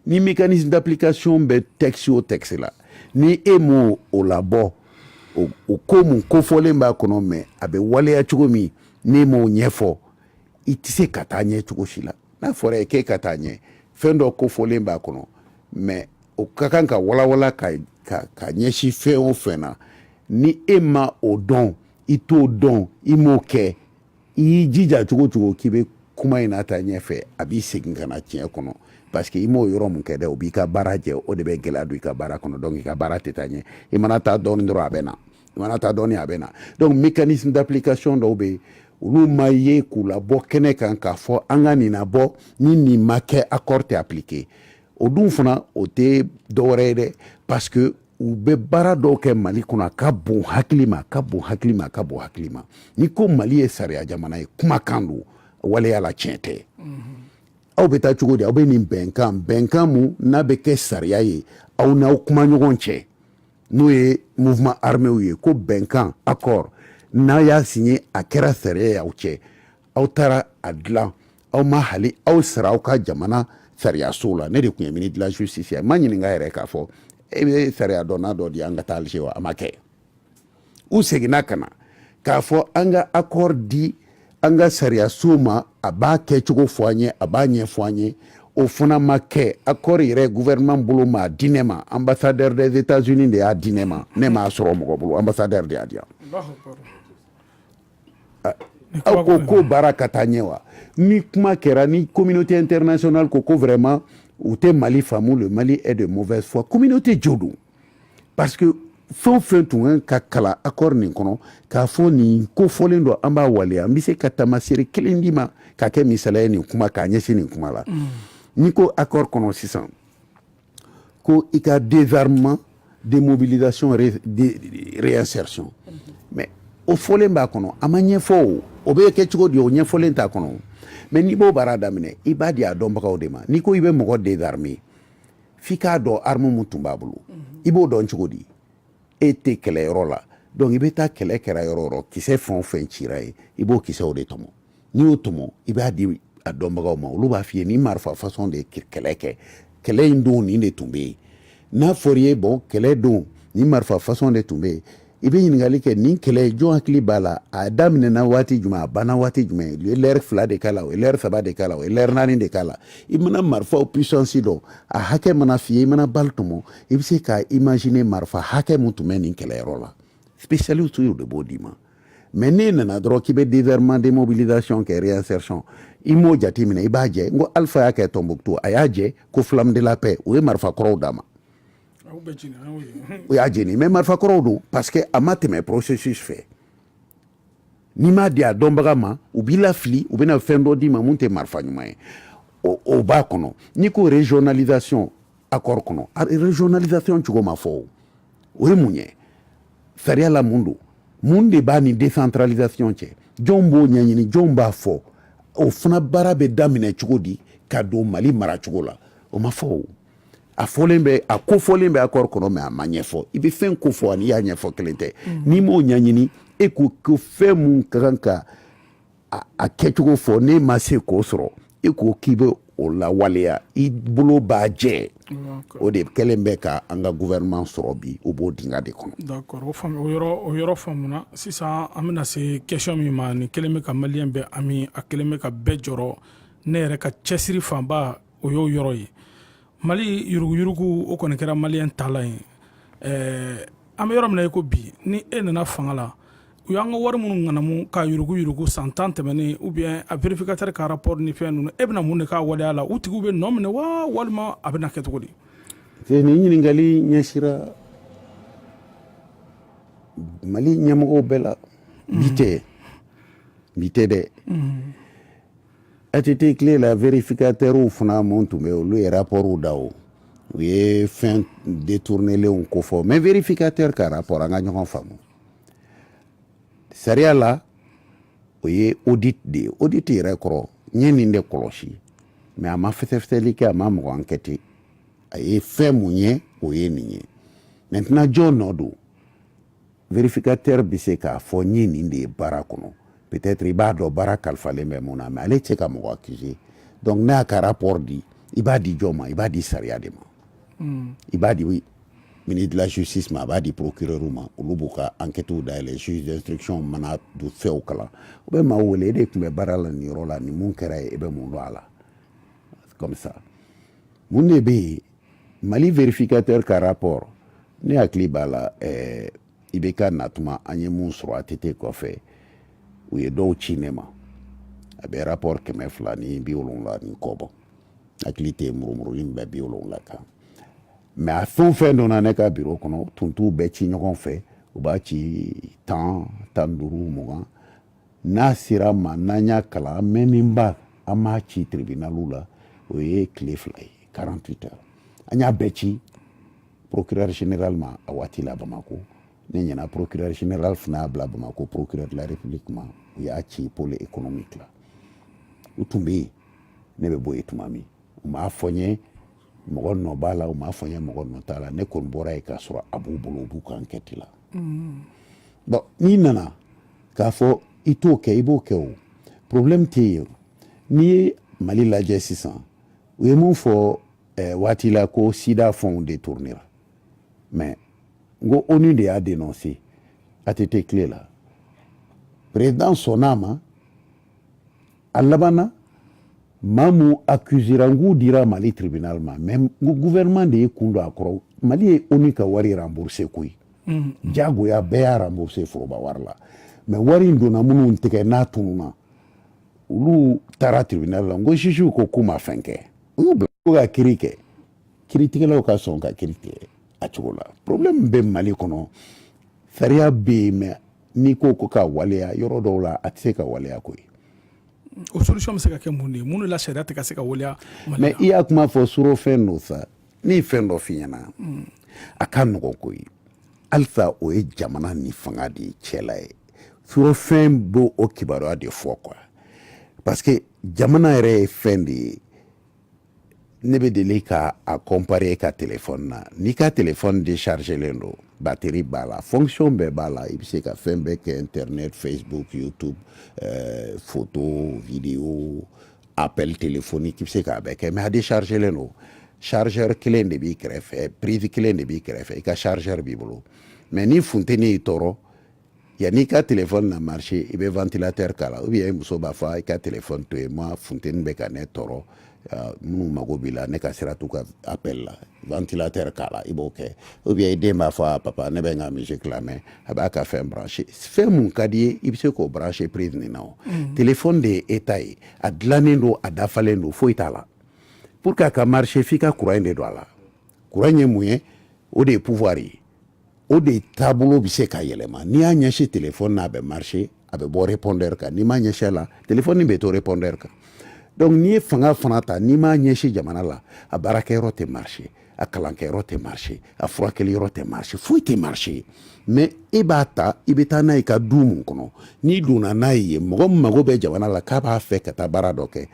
ni mécanisme d'application bɛ texte o texte la ni e m'o o labɔ o ko mun kofɔlen b'a kɔnɔ mais a bɛ waleya cogo min n'e m'o ɲɛfɔ i tɛ se ka taa ɲɛ cogo si la n'a fɔra i ye k'e ka taa ɲɛ fɛn dɔ kofɔlen b'a kɔnɔ mais o ka kan ka walawala ka ɲɛsin fɛn o fɛn na ni e ma o dɔn i t'o dɔn i m'o kɛ i jija cogo cogo k'i bɛ kuma in nataa ɲɛfɛ a b'i segin ka na tiɲɛ kɔnɔ parce que i m'o yɔrɔ mun kɛ dɛ o b'i ka baara jɛ o de bɛ gɛlɛya don i ka baara kɔnɔ donc i ka baara tɛ taa ɲɛ i mana taa dɔɔni dɔrɔn a bɛ na i mana taa dɔɔni a bɛ na donc mécanisme d'application dɔw bɛ yen olu ma ye k'u labɔ kɛnɛ kan k'a fɔ an ka nin labɔ ni nin ma kɛ accord tɛ appliquer o dun fana o tɛ dɔwɛrɛ ye dɛ parce que u bɛ baara dɔw kɛ mali kɔnɔ a ka bon hakili ma a ka bon hakili ma a ka bon hakili ma ni ko mali ye sariya jamana ye kumakan don waleya la tiɲɛ tɛ aw bɛ taa cogo di aw bɛ nin bɛnkan bɛnkan mun n'a bɛ kɛ sariya ye aw n'aw kuma ɲɔgɔn cɛ n'o ye mouvement arméw ye ko bɛnkan accord n'a y'a signé a kɛra sariya ye aw cɛ aw taara a dilan aw ma hali aw sara aw ka jamana sariyaso la ne de tun ye ministre de la justice ye ma ɲininka yɛrɛ k'a fɔ e bɛ sariya dɔnna dɔ di an ka taa alger wa a ma kɛ u seginna ka na k'a fɔ an ka accord di an ka sariyaso ma a b'a kɛcogo fɔ an ye a b'a ɲɛfɔ an ye o fana ma kɛ accord yɛrɛ gouvernement bolo ma di ne ma ambassadeur des états unis de y'a di ne ma ne m'a sɔrɔ mɔgɔ bolo ambassadeur de y'a di yan aw ko ko baara ka taa ɲɛ wa ni kuma kɛra ni communauté internationale ko ko vraiment u tɛ mali faamu le mali est de mauvaise foi communauté jo don parce que fɛn o fɛn tun ka ka kalan accord nin kɔnɔ k'a fɔ nin kofɔlen don an b'a waleya n bɛ se ka taamasere kelen d'i ma ka kɛ misaliya ye nin kuma k'a ɲɛsin nin kuma la mm. n'i ko accord kɔnɔ sisan ko i ka désarmement démobilisation réinsertion mais o fɔlen b'a kɔnɔ a ma ɲɛfɔ o bɛ kɛ cogo di o ɲɛfɔlen t'a kɔnɔ mais n'i b'o baara daminɛ i b'a di a dɔnbagaw de ma n'i ko i bɛ mɔgɔ désarmer f'i k'a dɔn arme mun tun b'a bolo i b'o dɔn cogo di e tɛ kɛlɛyɔrɔ la donc i bɛ taa kɛlɛ kɛra yɔrɔ o yɔrɔ kisɛ fɛn o fɛn cira yen i b'o kisɛw de tɔmɔ n'i y'o tɔmɔ i b'a di a dɔnbagaw ma olu b'a f'i ye ni marifa façon de ye kɛlɛ kɛ kɛlɛ in don nin de tun bɛ yen n'a fɔra i ye bon kɛlɛ don ni marifa façon de tun bɛ yen i bɛ ɲininkali kɛ nin kɛlɛ jɔn hakili b'a la a daminɛna waati jumɛn a banna waati jumɛn u ye lɛri fila de k'a la u ye lɛri saba de k'a la u ye lɛri naani de k'a la i mana marifaw puissance dɔn a hakɛ mana f'i ye i mana balle tɔmɔ i bɛ se ka imaginer marifa hakɛ mun tun bɛ nin kɛlɛyɔrɔ la spécialistes de b'o d'i ma mais n'i nana dɔrɔn k'i bɛ désarmement démobilisation kɛ réinsertion i m'o jate minɛ i b'a jɛ n ko alpha y'a kɛ tɔnbuktu a y'a jɛ ko flamme de la paix o ye marifa kɔrɔw d'a ma o y'a jeni mais marifa kɔrɔw don parce que a ma tɛmɛ processus fɛ n'i m'a di a dɔnbaga ma u b'i lafili u bɛna fɛn dɔ d'i ma mun tɛ marifa ɲuman ye o b'a kɔnɔ n'i ko régionalisation accord kɔnɔ régionalisation cogo ma fɔ o ye mun ye sariya la mun don mun de b'a ni décentralisation cɛ jɔn b'o ɲɛɲini jɔn b'a fɔ o fana baara bɛ daminɛ cogo di ka don mali mara cogo la o ma fɔ o a fɔlen bɛ a kofɔlen bɛ accord kɔnɔ mais a ma ɲɛfɔ i bɛ fɛn kofɔ ani i y'a ɲɛfɔ kelen tɛ mm. n'i m'o ɲɛɲini e ko ko fɛn mun ka kan ka a kɛcogo fɔ n'e ma se k'o sɔrɔ e ko k'i bɛ o lawaleya i bolo b'a jɛ o de kɛlen bɛ ka an ka gouvernement sɔrɔ bi o b'o dingɛ de kɔnɔ. d'accord o faamu o yɔrɔ o yɔrɔ faamuna sisan an bɛna se question min ma nin kɛlen bɛ ka maliyɛn bɛɛ hami a kɛlen bɛ ka bɛɛ jɔrɔ ne yɛrɛ ka cɛsiri fanba o y'o yɔrɔ ye mali yuruguyurugu o kɔni kɛra maliyɛn taalan ye ɛɛ an bɛ yɔrɔ min na i ko bi ni e nana fanga la u y'an ka wari minnu ŋanamu ka yuruguyurugu san tan tɛmɛnen ou bien a vérificateur ka rapport ni fɛn ninnu e bɛna mun de k'a waleya la u tigiw bɛ nɔ minɛ wa walima a bɛna kɛ cogo di nin ɲininkali ɲɛsira mali ɲɛmɔgɔw bɛɛ la bi tɛ bi tɛ dɛ ATT tile la vérificateur fana mun tun bɛ olu ye rapportw da o u ye fɛn détournelenw kofɔ mais vérificateur ka rapport an ka ɲɔgɔn faamu sariya la o ye audit de ye audit yɛrɛ kɔrɔ n ye nin de kɔlɔsi mais a ma fɛsɛfɛsɛli kɛ a ma mɔgɔ enquêter a ye fɛn mun ye o ye nin ye maintenant jɔn nɔ don vérificateur bɛ se k'a fɔ n ye nin de ye baara kɔnɔ peut-être i b'a dɔn baara kalifalen bɛ mun na mais ale tɛ se ka mɔgɔ accuser donc n'a ka rapport di i b'a di jɔn ma i b'a di sariya de ma i b'a di ministre de la justice ma a b'a di procureur ma olu b'u ka enquêtew dayɛlɛ juge d'instruction mana don fɛnw kalan u bɛ maa wele e de tun bɛ baara la nin yɔrɔ la nin mun kɛra yen e bɛ mun dɔn a la comme ça mun de bɛ yen mali vérificateur ka rapport ne hakili b'a la ɛɛ eh, IBK natuma an ye mun sɔrɔ ATT kɔfɛ u ye dɔw ci ne ma a bɛ rapport kɛmɛ fila ni bi wolonwula ni kɔ bɔ hakili tɛ murumuruli min bɛ bi wolonwula kan mais a fɛn o fɛn donna ne ka biro kɔnɔ tun t'u bɛɛ ci ɲɔgɔn fɛ u b'a ci tan tan duuru mugan n'a sera ma n'an y'a kalan an mɛnninba an m'a ci tribunalw la o ye tile fila ye 48 heures an y'a bɛɛ ci procureur général ma a waati la Bamakɔ ne ɲɛna procureur général fana y'a bila Bamakɔ procureur de la république ma u y'a ci pôle économique la u tun bɛ yen ne bɛ bɔ yen tuma min u m'a fɔ n ye mɔgɔ nɔ b'a la u m'a fɔ n ye mɔgɔ nɔ t'a la ne kɔni bɔra yen k'a sɔrɔ a b'u bolo u b'u ka enquête la bon n'i nana k'a fɔ i t'o kɛ i b'o kɛ o problème tɛ yen n'i ye mali lajɛ sisan u ye mun fɔ ɛɛ waati la ko sida fɛnw détournera mais n ko onu de y'a dénoncé ATT tile la président sɔnna a ma a labanna maa min accusera n k'u dira mali tribunal ma mais n ko gouvernement de ye kun don a kɔrɔ mali ye onu ka wari rembourse koyi jagoya bɛɛ y'a rembourse foroba wari la mais wari in donna minnu tɛgɛ n'a tununna olu taara tribunal la n ko juge ko k'u ma fɛn kɛ N'u bɛ ka kiri kɛ kiritigɛlaw ka sɔn ka kiri tigɛ a cogo la problème bɛ Mali kɔnɔ sariya bɛ yen mais n'i ko ko ka waleya yɔrɔ dɔw la a tɛ se ka waleya koyi o solution bɛ se ka kɛ mun de ye mun de la sariya tɛ ka se ka waleya Mali mais i y'a kuma fɔ surɔfɛn don sa ne ye fɛn dɔ f'i ɲɛna a ka nɔgɔn koyi halisa o ye jamana ni fanga de cɛla ye surɔfɛn b'o o kibaruya de fɔ quoi parce que jamana yɛrɛ ye fɛn de ye ne bɛ deli ka a comparer ka téléphone na n'i ka téléphone déchargelen don batterie b'a la fonction bɛɛ b'a la i bɛ se ka fɛn bɛɛ kɛ internet facebook youtube euh, photo vidéo appel téléphonique i bɛ se k'a bɛɛ kɛ mais a déchargelen don chargeur kelen de b'i kɛrɛfɛ prise kelen de b'i kɛrɛfɛ i ka chargeur b'i bolo mais ni funteni y'i tɔɔrɔ yanni i ka téléphone na marché i bɛ ventilateur k'a la ou bien i muso b'a fɔ i ka téléphone to yen ma funteni bɛ ka ne tɔɔrɔ minnu mago b'i la ne ka sira t'u ka appel la ventilateur k'a la i b'o kɛ ou bien i den b'a fɔ a papa ne bɛ n ka musique lamɛn a b'a ka fɛn branché fɛn mun ka d'i ye i bɛ se k'o branché prise nin na o mm. téléphone de ye état ye a dilannen don a dafalen don foyi t'a la pour que a ka marché f'i ka courant de don a la courant ye mun ye o de ye pouvoir ye o de taabolo bɛ se ka yɛlɛma n'i y'a ɲɛsin téléphone na a bɛ marché a bɛ bɔ répondeur kan n'i m'a ɲɛsin a la téléphone bɛ to répondeur kan donc n'i ye fanga fana ta n'i m'a ɲɛsin jamana la a baarakɛyɔrɔ tɛ marché a kalankɛyɔrɔ tɛ marché a furakɛliyɔrɔ tɛ marché foyi tɛ marché mais e b'a ta i bɛ taa n'a ye ka du mun kɔnɔ n'i donna n'a ye mɔgɔ min mago bɛ jamana la k'a b'a fɛ ka taa baara dɔ kɛ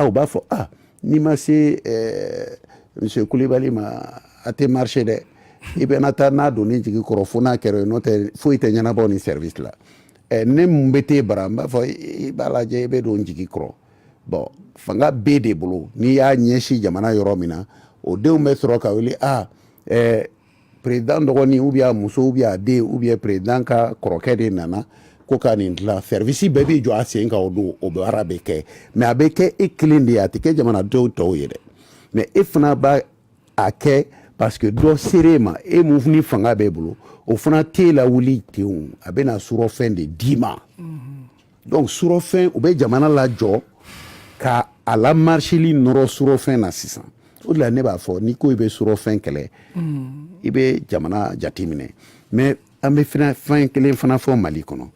u b'a fɔ a n'i ma se eh, monsieur kulibali ma a tɛ marché dɛ i bɛna taa n'a don ni jigi kɔrɔ fo n'a kɛra n'o tɛ foyi tɛ ɲɛnabɔ ni service la eh, ne mun bɛ t'e bara n b'a fɔ i b'a lajɛ i bɛ don jigi kɔrɔ bɔn fanga bɛ de bolo n'i y'a ɲɛsin jamana yɔrɔ min na o denw bɛ sɔrɔ ka wuli a ɛɛ perezidan dɔgɔnin ou bien a muso ou bien a den ou bien perezidan ka kɔrɔkɛ de nana ko ka nin dilan sɛrivisi bɛɛ b'i jɔ a sen kan o don o baara bɛ kɛ mais a bɛ kɛ e kelen de ye a tɛ kɛ jamanadenw tɔw ye dɛ mais e fana b'a a kɛ parce que dɔ sera e ma e mun ni fanga b'e bolo o fana tɛ e lawuli ten a bɛna surɔfɛn de d'i ma. Mm -hmm. donc surɔfɛn u bɛ jamana lajɔ ka a la marsili nɔrɔ surɔfɛn na sisan o de la ne b'a fɔ n'i ko i bɛ surɔfɛn kɛlɛ i bɛ jamana jateminɛ mais an bɛ fɛnɛ fɛn kelen fana fɔ mali kɔnɔ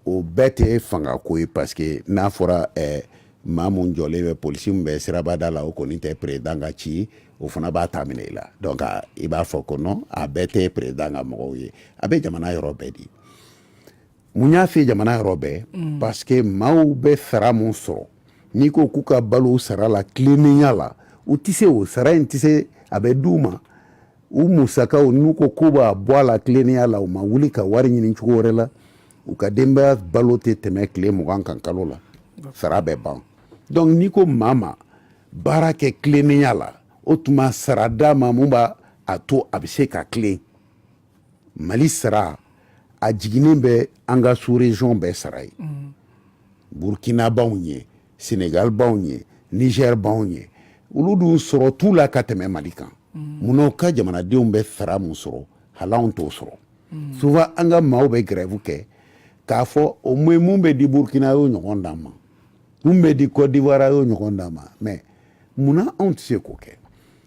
o bɛɛ tɛ fanga ko ye parce que n'a fɔra eh, maa mun jɔlen bɛ polisi min bɛ sirabada la o kɔni tɛ perezidan ka ci o fana b'a ta minɛ i la donc a, i b'a fɔ ko non a bɛɛ tɛ perezidan ka mɔgɔw ye a bɛ jamana yɔrɔ bɛɛ di mun y'a fɛ jamana yɔrɔ bɛɛ mm. parce que maaw bɛ sara mun sɔrɔ n'i ko k'u ka balo sara la tilennenya la u tɛ se o sara in tɛ se a bɛ d'u ma u musakaw n'u ko k'u b'a bɔ a la tilennenya la u ma wuli ka wari ɲini cogo wɛrɛ la u ka denbaya balo tɛ tɛmɛ tile mugan kan kalo la sara bɛ ban donc n'i ko maa ma baara kɛ tilennenya la o tuma sara d'a ma mun b'a a to a bɛ se ka tilen mali sara a jiginnen bɛ an ka sous-région bɛɛ sara ye mm. burukina b'anw ɲɛ senegal b'anw ɲɛ niger b'anw ɲɛ olu dun sɔrɔ t'u la ka tɛmɛ mali kan mm. munna u ka jamanadenw bɛ sara mun sɔrɔ hali anw t'o sɔrɔ mm. souvent an ka maaw bɛ grève kɛ k'a fɔ o moyen mun bɛ di burukina y'o ɲɔgɔn d'an ma mun bɛ di cote d'ivoire y'o ɲɔgɔn d'an ma mais munna anw tɛ se k'o kɛ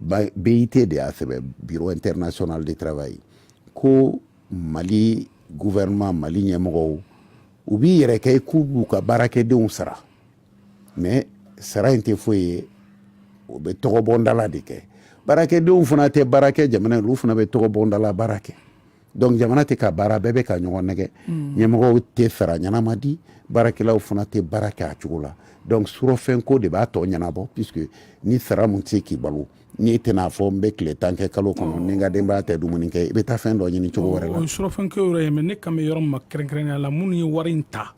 BIT de y'a sɛbɛn Bureau international de travail ko mali gouvernement mali ɲɛmɔgɔw u b'i yɛrɛ kɛ i k'u b'u ka baarakɛdenw sara mais sara in tɛ foyi ye o bɛ tɔgɔbɔndala de kɛ baarakɛdenw fana tɛ baara kɛ jamana ye olu fana bɛ tɔgɔbɔndala baara kɛ donc jamana tɛ ka baara bɛɛ bɛ ka ɲɔgɔn nɛgɛn mm. ɲɛmɔgɔw tɛ sara ɲɛnama di baarakɛlaw fana tɛ baara kɛ a cogo la donc surɔfɛn ko de b'a tɔ ɲɛnabɔ puisque ni sara min tɛ se k'i balo n'i tɛna a fɔ n bɛ tile tan kɛ kalo kɔnɔ ni n ka denbaya tɛ dumuni kɛ i bɛ taa fɛn dɔ ɲini cogo wɛrɛ la o ye surɔfɛn kɛ yɔrɔ ye mais ne kan bɛ yɔrɔ min ma kɛrɛnkɛrɛnnenya la minnu ye wari in ta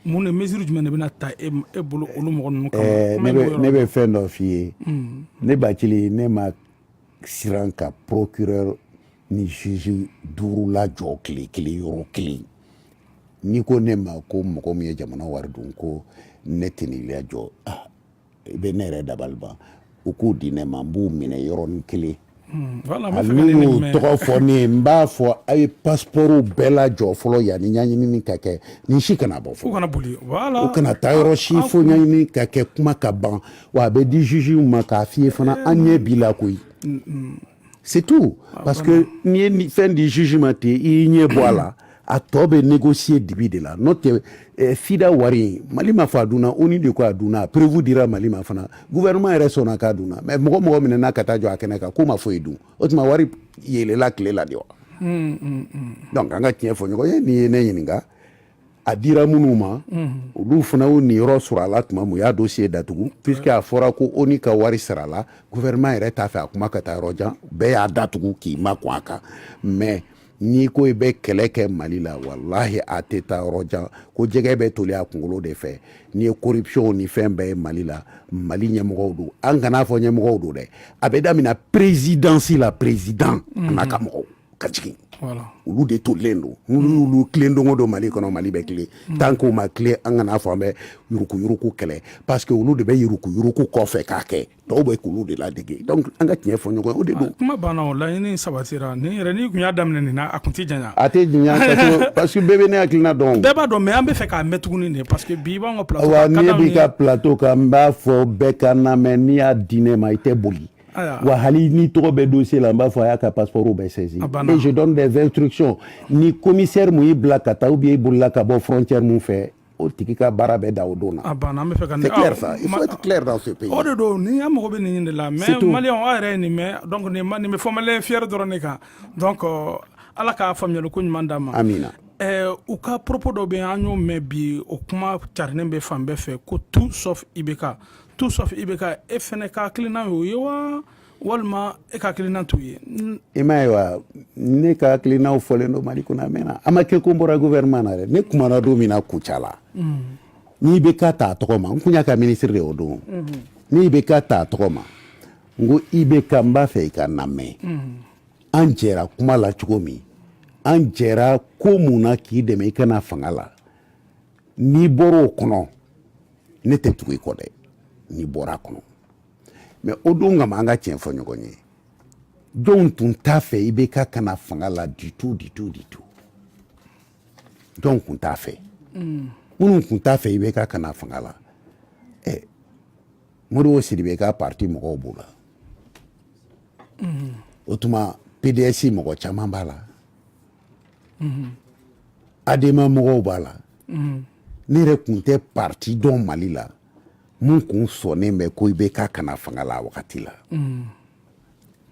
mun de mesure jumɛn de bɛna ta e, e bolo olu mɔgɔ ninnu kama eh, ne bɛ fɛn dɔ f'i ye mm. ne bacili ne ma siran ka procureur ni juge duuru lajɔ tile kelen yɔrɔ kelen n'i ko ne ma ko mɔgɔ min ye jamana wari dun ko ne tɛ nin lajɔ ah, i bɛ ne yɛrɛ dabali ban u k'u di ne ma n b'u minɛ yɔrɔnin kelen hmm, hali n'u y'u tɔgɔ fɔ ne ye n b'a fɔ a ye passeport bɛɛ lajɔ fɔlɔ yanni ɲɛɲinini ka kɛ nin si kana bɔ fɔlɔ u kana taa yɔrɔ si fo ɲɛɲinini ka kɛ kuma ka ban Wa a bɛ di juges ma k'a f'i ye fana eh, an ɲɛ b'i la koyi. Mm, mm. C'est tout ah, parce que n'i ye fɛn di juge ma ten i y'i ɲɛ bɔ a la a tɔ bɛ négocier dibi de la n'o tɛ eh, FIDA wari Mali ma fɔ a dunna ONU de ko a dunna a preuve dira Mali ma fana gouvernement yɛrɛ sɔnna k'a dunna mais mɔgɔ mɔgɔ minɛna ka taa jɔ a kɛnɛ kan k'o ma foyi dun o tuma wari yeelela tile la de wa. Mm, donc an ka tiɲɛ fɔ ɲɔgɔn ye n'i ye ne ɲininka. a dira minnu ma olu fana y'u niyɔrɔ sɔrɔ a la tuma min u y'a dossier datugu puisque a fɔra ko ONU ka wari sarala gouvernement yɛrɛ t'a fɛ a kuma ka taa yɔrɔ jan bɛɛ y'a datugu k'i makun a kan mais n'i ko i bɛ kɛlɛ kɛ Mali la walahi a tɛ taa yɔrɔ jan ko jɛgɛ bɛ toli a kunkolo de fɛ n'i ye corruption ni fɛn bɛɛ ye Mali la Mali ɲɛmɔgɔw don an kan'a fɔ ɲɛmɔgɔw don dɛ a bɛ daminɛ présidence la président an'a ka mɔgɔw ka jigin olu de tolen don n'olu tilen don o don mali kɔnɔ mali bɛ tilen mm. tant qu'o ma tilen an kana fɔ an bɛ yuruku yuruku kɛlɛ parce que olu de bɛ yuruku yuruku kɔfɛ k'a kɛ dɔw bɛ k'olu de ladege donc an ka tiɲɛ fɔ ɲɔgɔn ye o de don ah, kuma banna o laɲini sabatira nin yɛrɛ n'i tun y'a daminɛ nin na a tun tɛ janya a tɛ janya parce que bɛɛ bɛ ne hakilina dɔn bɛɛ b'a dɔn mais an bɛ fɛ k'a mɛn tuguni de parce que bi i b'an ka plateau kan wa ne b'i ka plateau kan n b'a fɔ bɛɛ ka n lamɛn n'i y'a di ne ma i tɛ boli wa hali n'i tɔgɔ bɛ dossier la n b'a fɔ a y'a ka passeport bɛɛ saisi et je donne des instructions ni commissaire mun y'i bila ka taa ou bien i bolila ka bɔ frontière mun fɛ o tigi ka baara bɛ dan o don na. a banna an bɛ fɛ ka c'est clair ça il faut être clair dans ce pays. o de don ni an mago bɛ nin de la mais maliyɛn aw yɛrɛ ye nin mɛn donc nin ma nin bɛ fɔ maliyɛn fier dɔrɔn de kan donc euh, ala k'a faamuyali ko ɲuman d'a ma. amina. Eh, u ka propos dɔ bɛ an y'o mɛn bi o kuma carinen bɛ fan bɛɛ fɛ ko tout sauf IBK tout sauf IBK e fana ka hakilina ye o ye wa walima e ka hakilina t'o ye i m'a ye wa ne ka hakilinaw fɔlen don mali kɔnɔ a mɛnna a ma kɛ ko n bɔra gouvernement na dɛ ne kumana don min na Kucala n y'IBK ta a tɔgɔ ma n kun y'a ka minisiri de o don n y'IBK ta a tɔgɔ ma n ko IBK n b'a fɛ i ka n lamɛn an jɛra kuma la cogo min an jɛra ko mun na k'i dɛmɛ i ka na fanga la n'i bɔra o kɔnɔ ne tɛ tugu i kɔ dɛ n'i bɔra a kɔnɔ mais o don kama an ka tiɲɛ fɔ ɲɔgɔn ye jɔnw tun t'a fɛ ibk ka na fanga la du tout du tout du tout jɔnw tun t'a fɛ mm. minnu tun t'a fɛ ibk ka na fanga la ɛ eh, modibo sidibe ka parti mɔgɔw b'o la mm. o tuma pds mɔgɔ caman b'a la adema mɔgɔw b'a la ne yɛrɛ kun tɛ parti dɔn mali la mun kun sɔnnen bɛ ko ibk ka na fanga la wagati la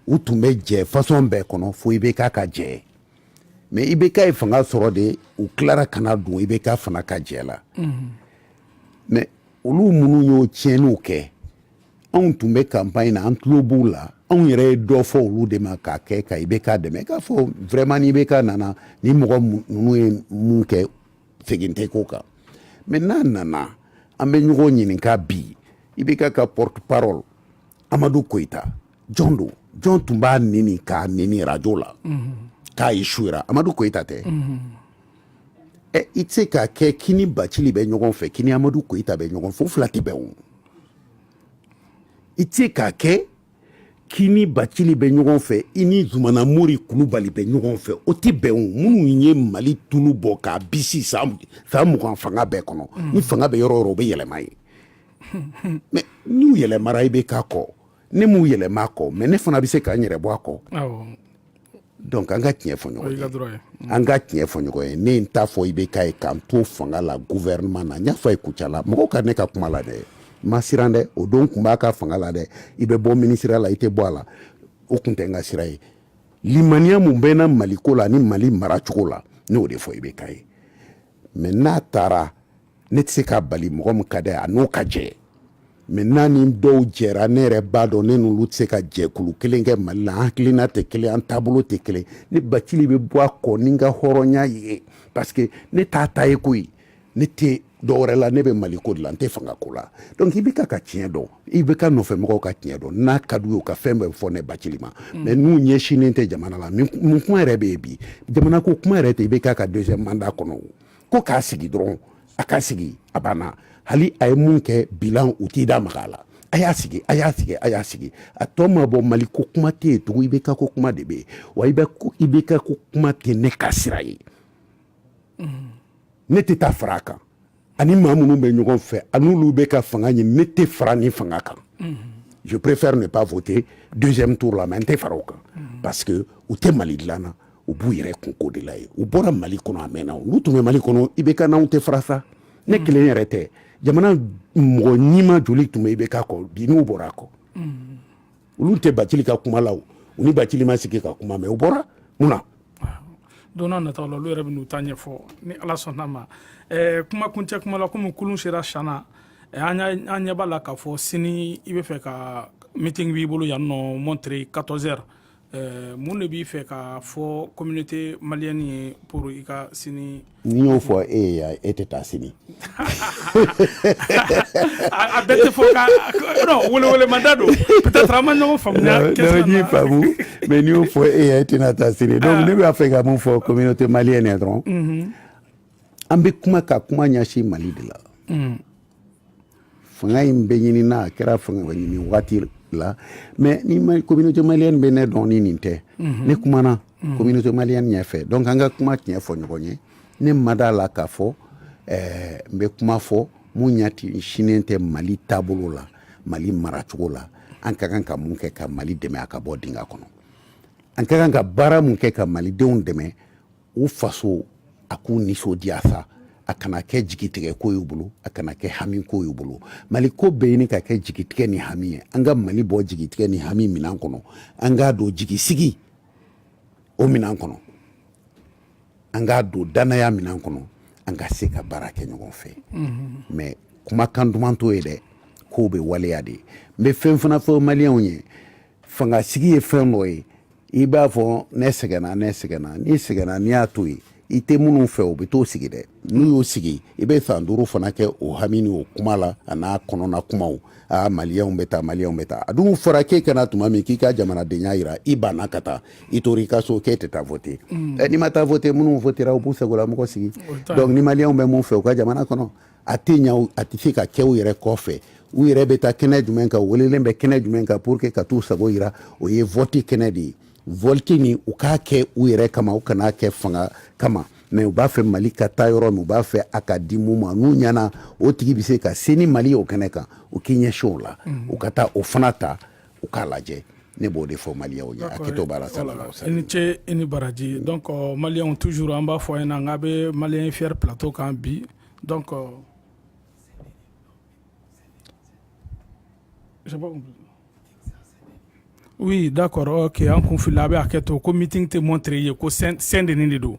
u tun bɛ jɛ fasɔn bɛɛ kɔnɔ fo ibk ka jɛ mais ibk ye fanga sɔrɔ de u tilara ka na don ibk fana ka jɛ la mais olu minnu y'o tiɲɛniw kɛ anw tun bɛ kanpaɲi na an tulo b'u la anw yɛrɛ ye dɔ fɔ olu de ma k'a kɛ ka ibk dɛmɛ k'a fɔ vraiment ni ibk nana ni mɔgɔ ninnu ye mun kɛ segin tɛ k'o kan mais n'a nana an bɛ ɲɔgɔn ɲininka bi ibk ka porte parole amadu koyita jɔn don jɔn tun b'a nɛni k'a nɛni rajo la mhm. k'a échouera amadu koyita tɛ mhm. ɛ i tɛ se k'a kɛ k'i ni bacili bɛ ɲɔgɔn fɛ k'i ni amadu koyita bɛ ɲɔgɔn fɛ o fila tɛ bɛn o i tɛ se k'a kɛ k'i ni bacili bɛ ɲɔgɔn fɛ i ni zumana mori kulubali bɛ ɲɔgɔn fɛ o tɛ bɛn o minnu ye mali tulu bɔ k'a bisi san mugan fanga bɛɛ kɔnɔ mm. ni fanga bɛ yɔrɔ o yɔrɔ u bɛ yɛlɛma yen mais n'u yɛlɛmara ibk kɔ ne m'u yɛlɛma a kɔ mais ne fana bɛ se ka n yɛrɛ bɔ a kɔ donc an ka tiɲɛ fɔ ɲɔgɔn ye an ka tiɲɛ fɔ ɲɔgɔn ye ne n t'a fɔ ibk ye ka n to fanga la gouvernement na n y'a fɔ a ye kucala mɔgɔw ka ne ka kuma lamɛn n ma siran dɛ o don n tun b'a ka fanga la dɛ i bɛ bɔ minisiriya la i tɛ bɔ a la o tun tɛ n ka sira ye limaniya mun bɛ n na mali ko la ni mali maracogo la ne y'o de fɔ ibk ye mais n'a taara ne tɛ se k'a bali mɔgɔ min ka d'a ye a n'o ka jɛ mais n'a ni dɔw jɛra ne yɛrɛ b'a dɔn ne n'olu tɛ se ka jɛkulu kelen kɛ mali la an hakilina tɛ kelen an taabolo tɛ kelen ne bacili bɛ bɔ a kɔ ni n ka hɔrɔnya ye parce que ne t'a ta ye koyi ne tɛ dɔwɛrɛ la ne bɛ mali ko de la n tɛ fanga ko la donc ibk ka tiɲɛ dɔn ibk nɔfɛmɔgɔw ka tiɲɛ dɔn n'a ka d'u ye u ka fɛn bɛɛ fɔ ne bacili ma mm. mais n'u ɲɛsinnen tɛ jamana la mun kuma yɛrɛ bɛ yen bi jamana ko kuma yɛrɛ tɛ ibk ka deuxième mandat kɔnɔ o ko k'a sigi dɔrɔn a ka sigi a banna hali a ye mun kɛ bilan u t'i da maga a la a y'a sigi a y'a sigi a y'a sigi a tɔ ma bɔ mali ko kuma tɛ yen tugun ibk ko kuma de bɛ yen wa ib ibk ko kuma tɛ ne ka sira ye ne tɛ taa fara a kan a ni maa minnu bɛ ɲɔgɔn fɛ a n'olu bɛ ka fanga ɲini ne tɛ fara nin fanga kan je préfère ne pas voter deuxième tour la mais n tɛ fara o kan parce que u tɛ mali dilan na u b'u yɛrɛ kunko de la ye u bɔra mali kɔnɔ a mɛnna olu tun bɛ mali kɔnɔ IBK n'anw tɛ fara sa ne mm. kelen yɛrɛ tɛ jamana mɔgɔ ɲima joli tun bɛ IBK kɔ bi n'u bɔra a kɔ mm. olu tɛ bacili ka kuma la u ni bacili ma sigi ka kuma mais u bɔra mun na don n'a nataw la olu yɛrɛ bɛ n'u ta ɲɛfɔ ni ala sɔnn'a ma eh, kuma kuncɛ kuma la komi kulun sera siyana eh, an ɲɛ b'a la k'a fɔ sini i bɛ fɛ ka meeting b'i bolo yan nɔ Montreuil 14 heures Eh, mun de b'i fɛ k'a fɔ communauté malienne ye pour i ka sini n'i y'o fɔ e ye yan e tɛ taa sini a bɛɛ tɛ fɔ ka non welewelemada don peut-être an ma ɲɔgɔn faamuya question n y'i faamu mais n'i y'o fɔ e ye e tɛna taa sini donc ah. ne b'a fɛ ka mun fɔ communauté malienne ye dɔrɔn mhm. an bɛ kuma ka kuma ɲɛsin mali de la mm. fanga in bɛ ɲini na a kɛra fanga ɲini waati la mais ni communauté malienne bɛ ne dɔn ni nin tɛ mhm. ne kumana mhm. communauté malienne ɲɛfɛ donc an ka kuma tiɲɛ fɔ ɲɔgɔn ye ne ma d'a la k'a fɔ eh, n bɛ kuma fɔ mun ɲɛsinnen tɛ mali taabolo la mali maracogo la an ka kan ka mun kɛ ka mali dɛmɛ a ka bɔ dinga kɔnɔ an ka kan ka baara mun kɛ ka malidenw dɛmɛ u faso a k'u nisɔndiya sa a kana kɛ jigitigɛ ko y'u bolo a kana kɛ hami ko y'u bolo mali ko bɛ ɲini ka kɛ jigitigɛ ni hami ye an ka mali bɔ jigitigɛ ni hami minan kɔnɔ an k'a don jigisigi o minan kɔnɔ an k'a don dannaya minan kɔnɔ an ka se ka baara kɛ ɲɔgɔn fɛ mais kumakan duman t'o ye dɛ k'o bɛ waleya de ye n bɛ fɛn fana fɔ maliyɛnw ye fanga sigi ye fɛn dɔ ye i b'a fɔ ne sɛgɛnna ne sɛgɛnna n'i sɛgɛnna n'i y'a to yen i tɛ minnu fɛ u bɛ t'o sigi dɛ n'u y'o sigi i bɛ san duuru fana kɛ o hami ni o kuma la a n'a kɔnɔna kumaw a maliyɛnw bɛ taa maliyɛnw bɛ taa a dun fɔra k'e ka na tuma min k'i ka jamanadenya jira i banna ka taa i tora i ka so k'e tɛ taa vote mm. n'i ma taa vote minnu votera u b'u sagolamɔgɔ sigi donc ni maliyɛnw bɛ mun fɛ u ka jamana kɔnɔ a tɛ ɲa a tɛ se ka kɛ u yɛrɛ kɔfɛ u yɛrɛ bɛ taa kɛnɛ jumɛn kan u welelen bɛ kɛnɛ jumɛn kan pour que ka t'u sago yira o ye vɔti kɛnɛ de ye vɔti nin u k'a kɛ u yɛrɛ kama u kan'a kɛ fanga kama mais u b'a fɛ mali ka taa yɔrɔ min u b'a fɛ a ka di mun ma n'u ɲɛna o tigi bɛ se ka se ni mali ye o kɛnɛ kan u k'i ɲɛsin o la mm. u ka taa o fana ta u k'a lajɛ ne b'o de fɔ maliyɛnw ye hakɛto b'a la salala i ni ce i ni baraji donc maliyɛnw toujours an b'a fɔ a ɲɛna n k'a bɛ maliyɛn fier plateau kan bi Donc oui d'accord ok an kun filila a bɛ hakɛ to ko meeting tɛ Montreuil ko Saint-Denis de don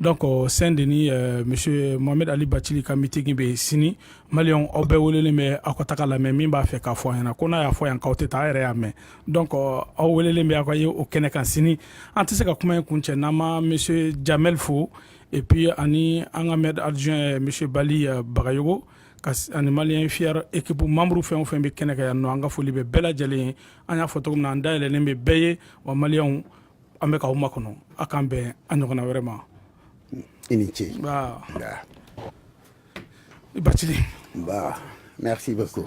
donc Saint-Denis monsieur Mohamed Ali Bacili ka meeting bɛ yen sini maliyɛnw aw bɛɛ welelen bɛ aw ka taga lamɛn min b'a fɛ k'a fɔ an ɲɛna ko n'a y'a fɔ yan k'aw tɛ taa yɛrɛ y'a mɛn donc aw welelen bɛ aw ka ye o kɛnɛ kan sini an tɛ se ka kuma in kuncɛ n'an ma monsieur Jamel fo et puis ani an ka maire adjoint monsieur bali euh, Bagayogo ani maliyɛn fier équipe membre fɛn o fɛn bɛ kɛnɛ kan yan nɔ an ka foli bɛ bɛɛ lajɛlen ye an y'a fɔ cogo min na an dayɛlɛlen bɛ bɛɛ ye wa maliyɛnw an bɛ k'aw makɔnɔ a k'an bɛn a ɲɔgɔnna wɛrɛ ma i ni ce i bacili merci beaucoup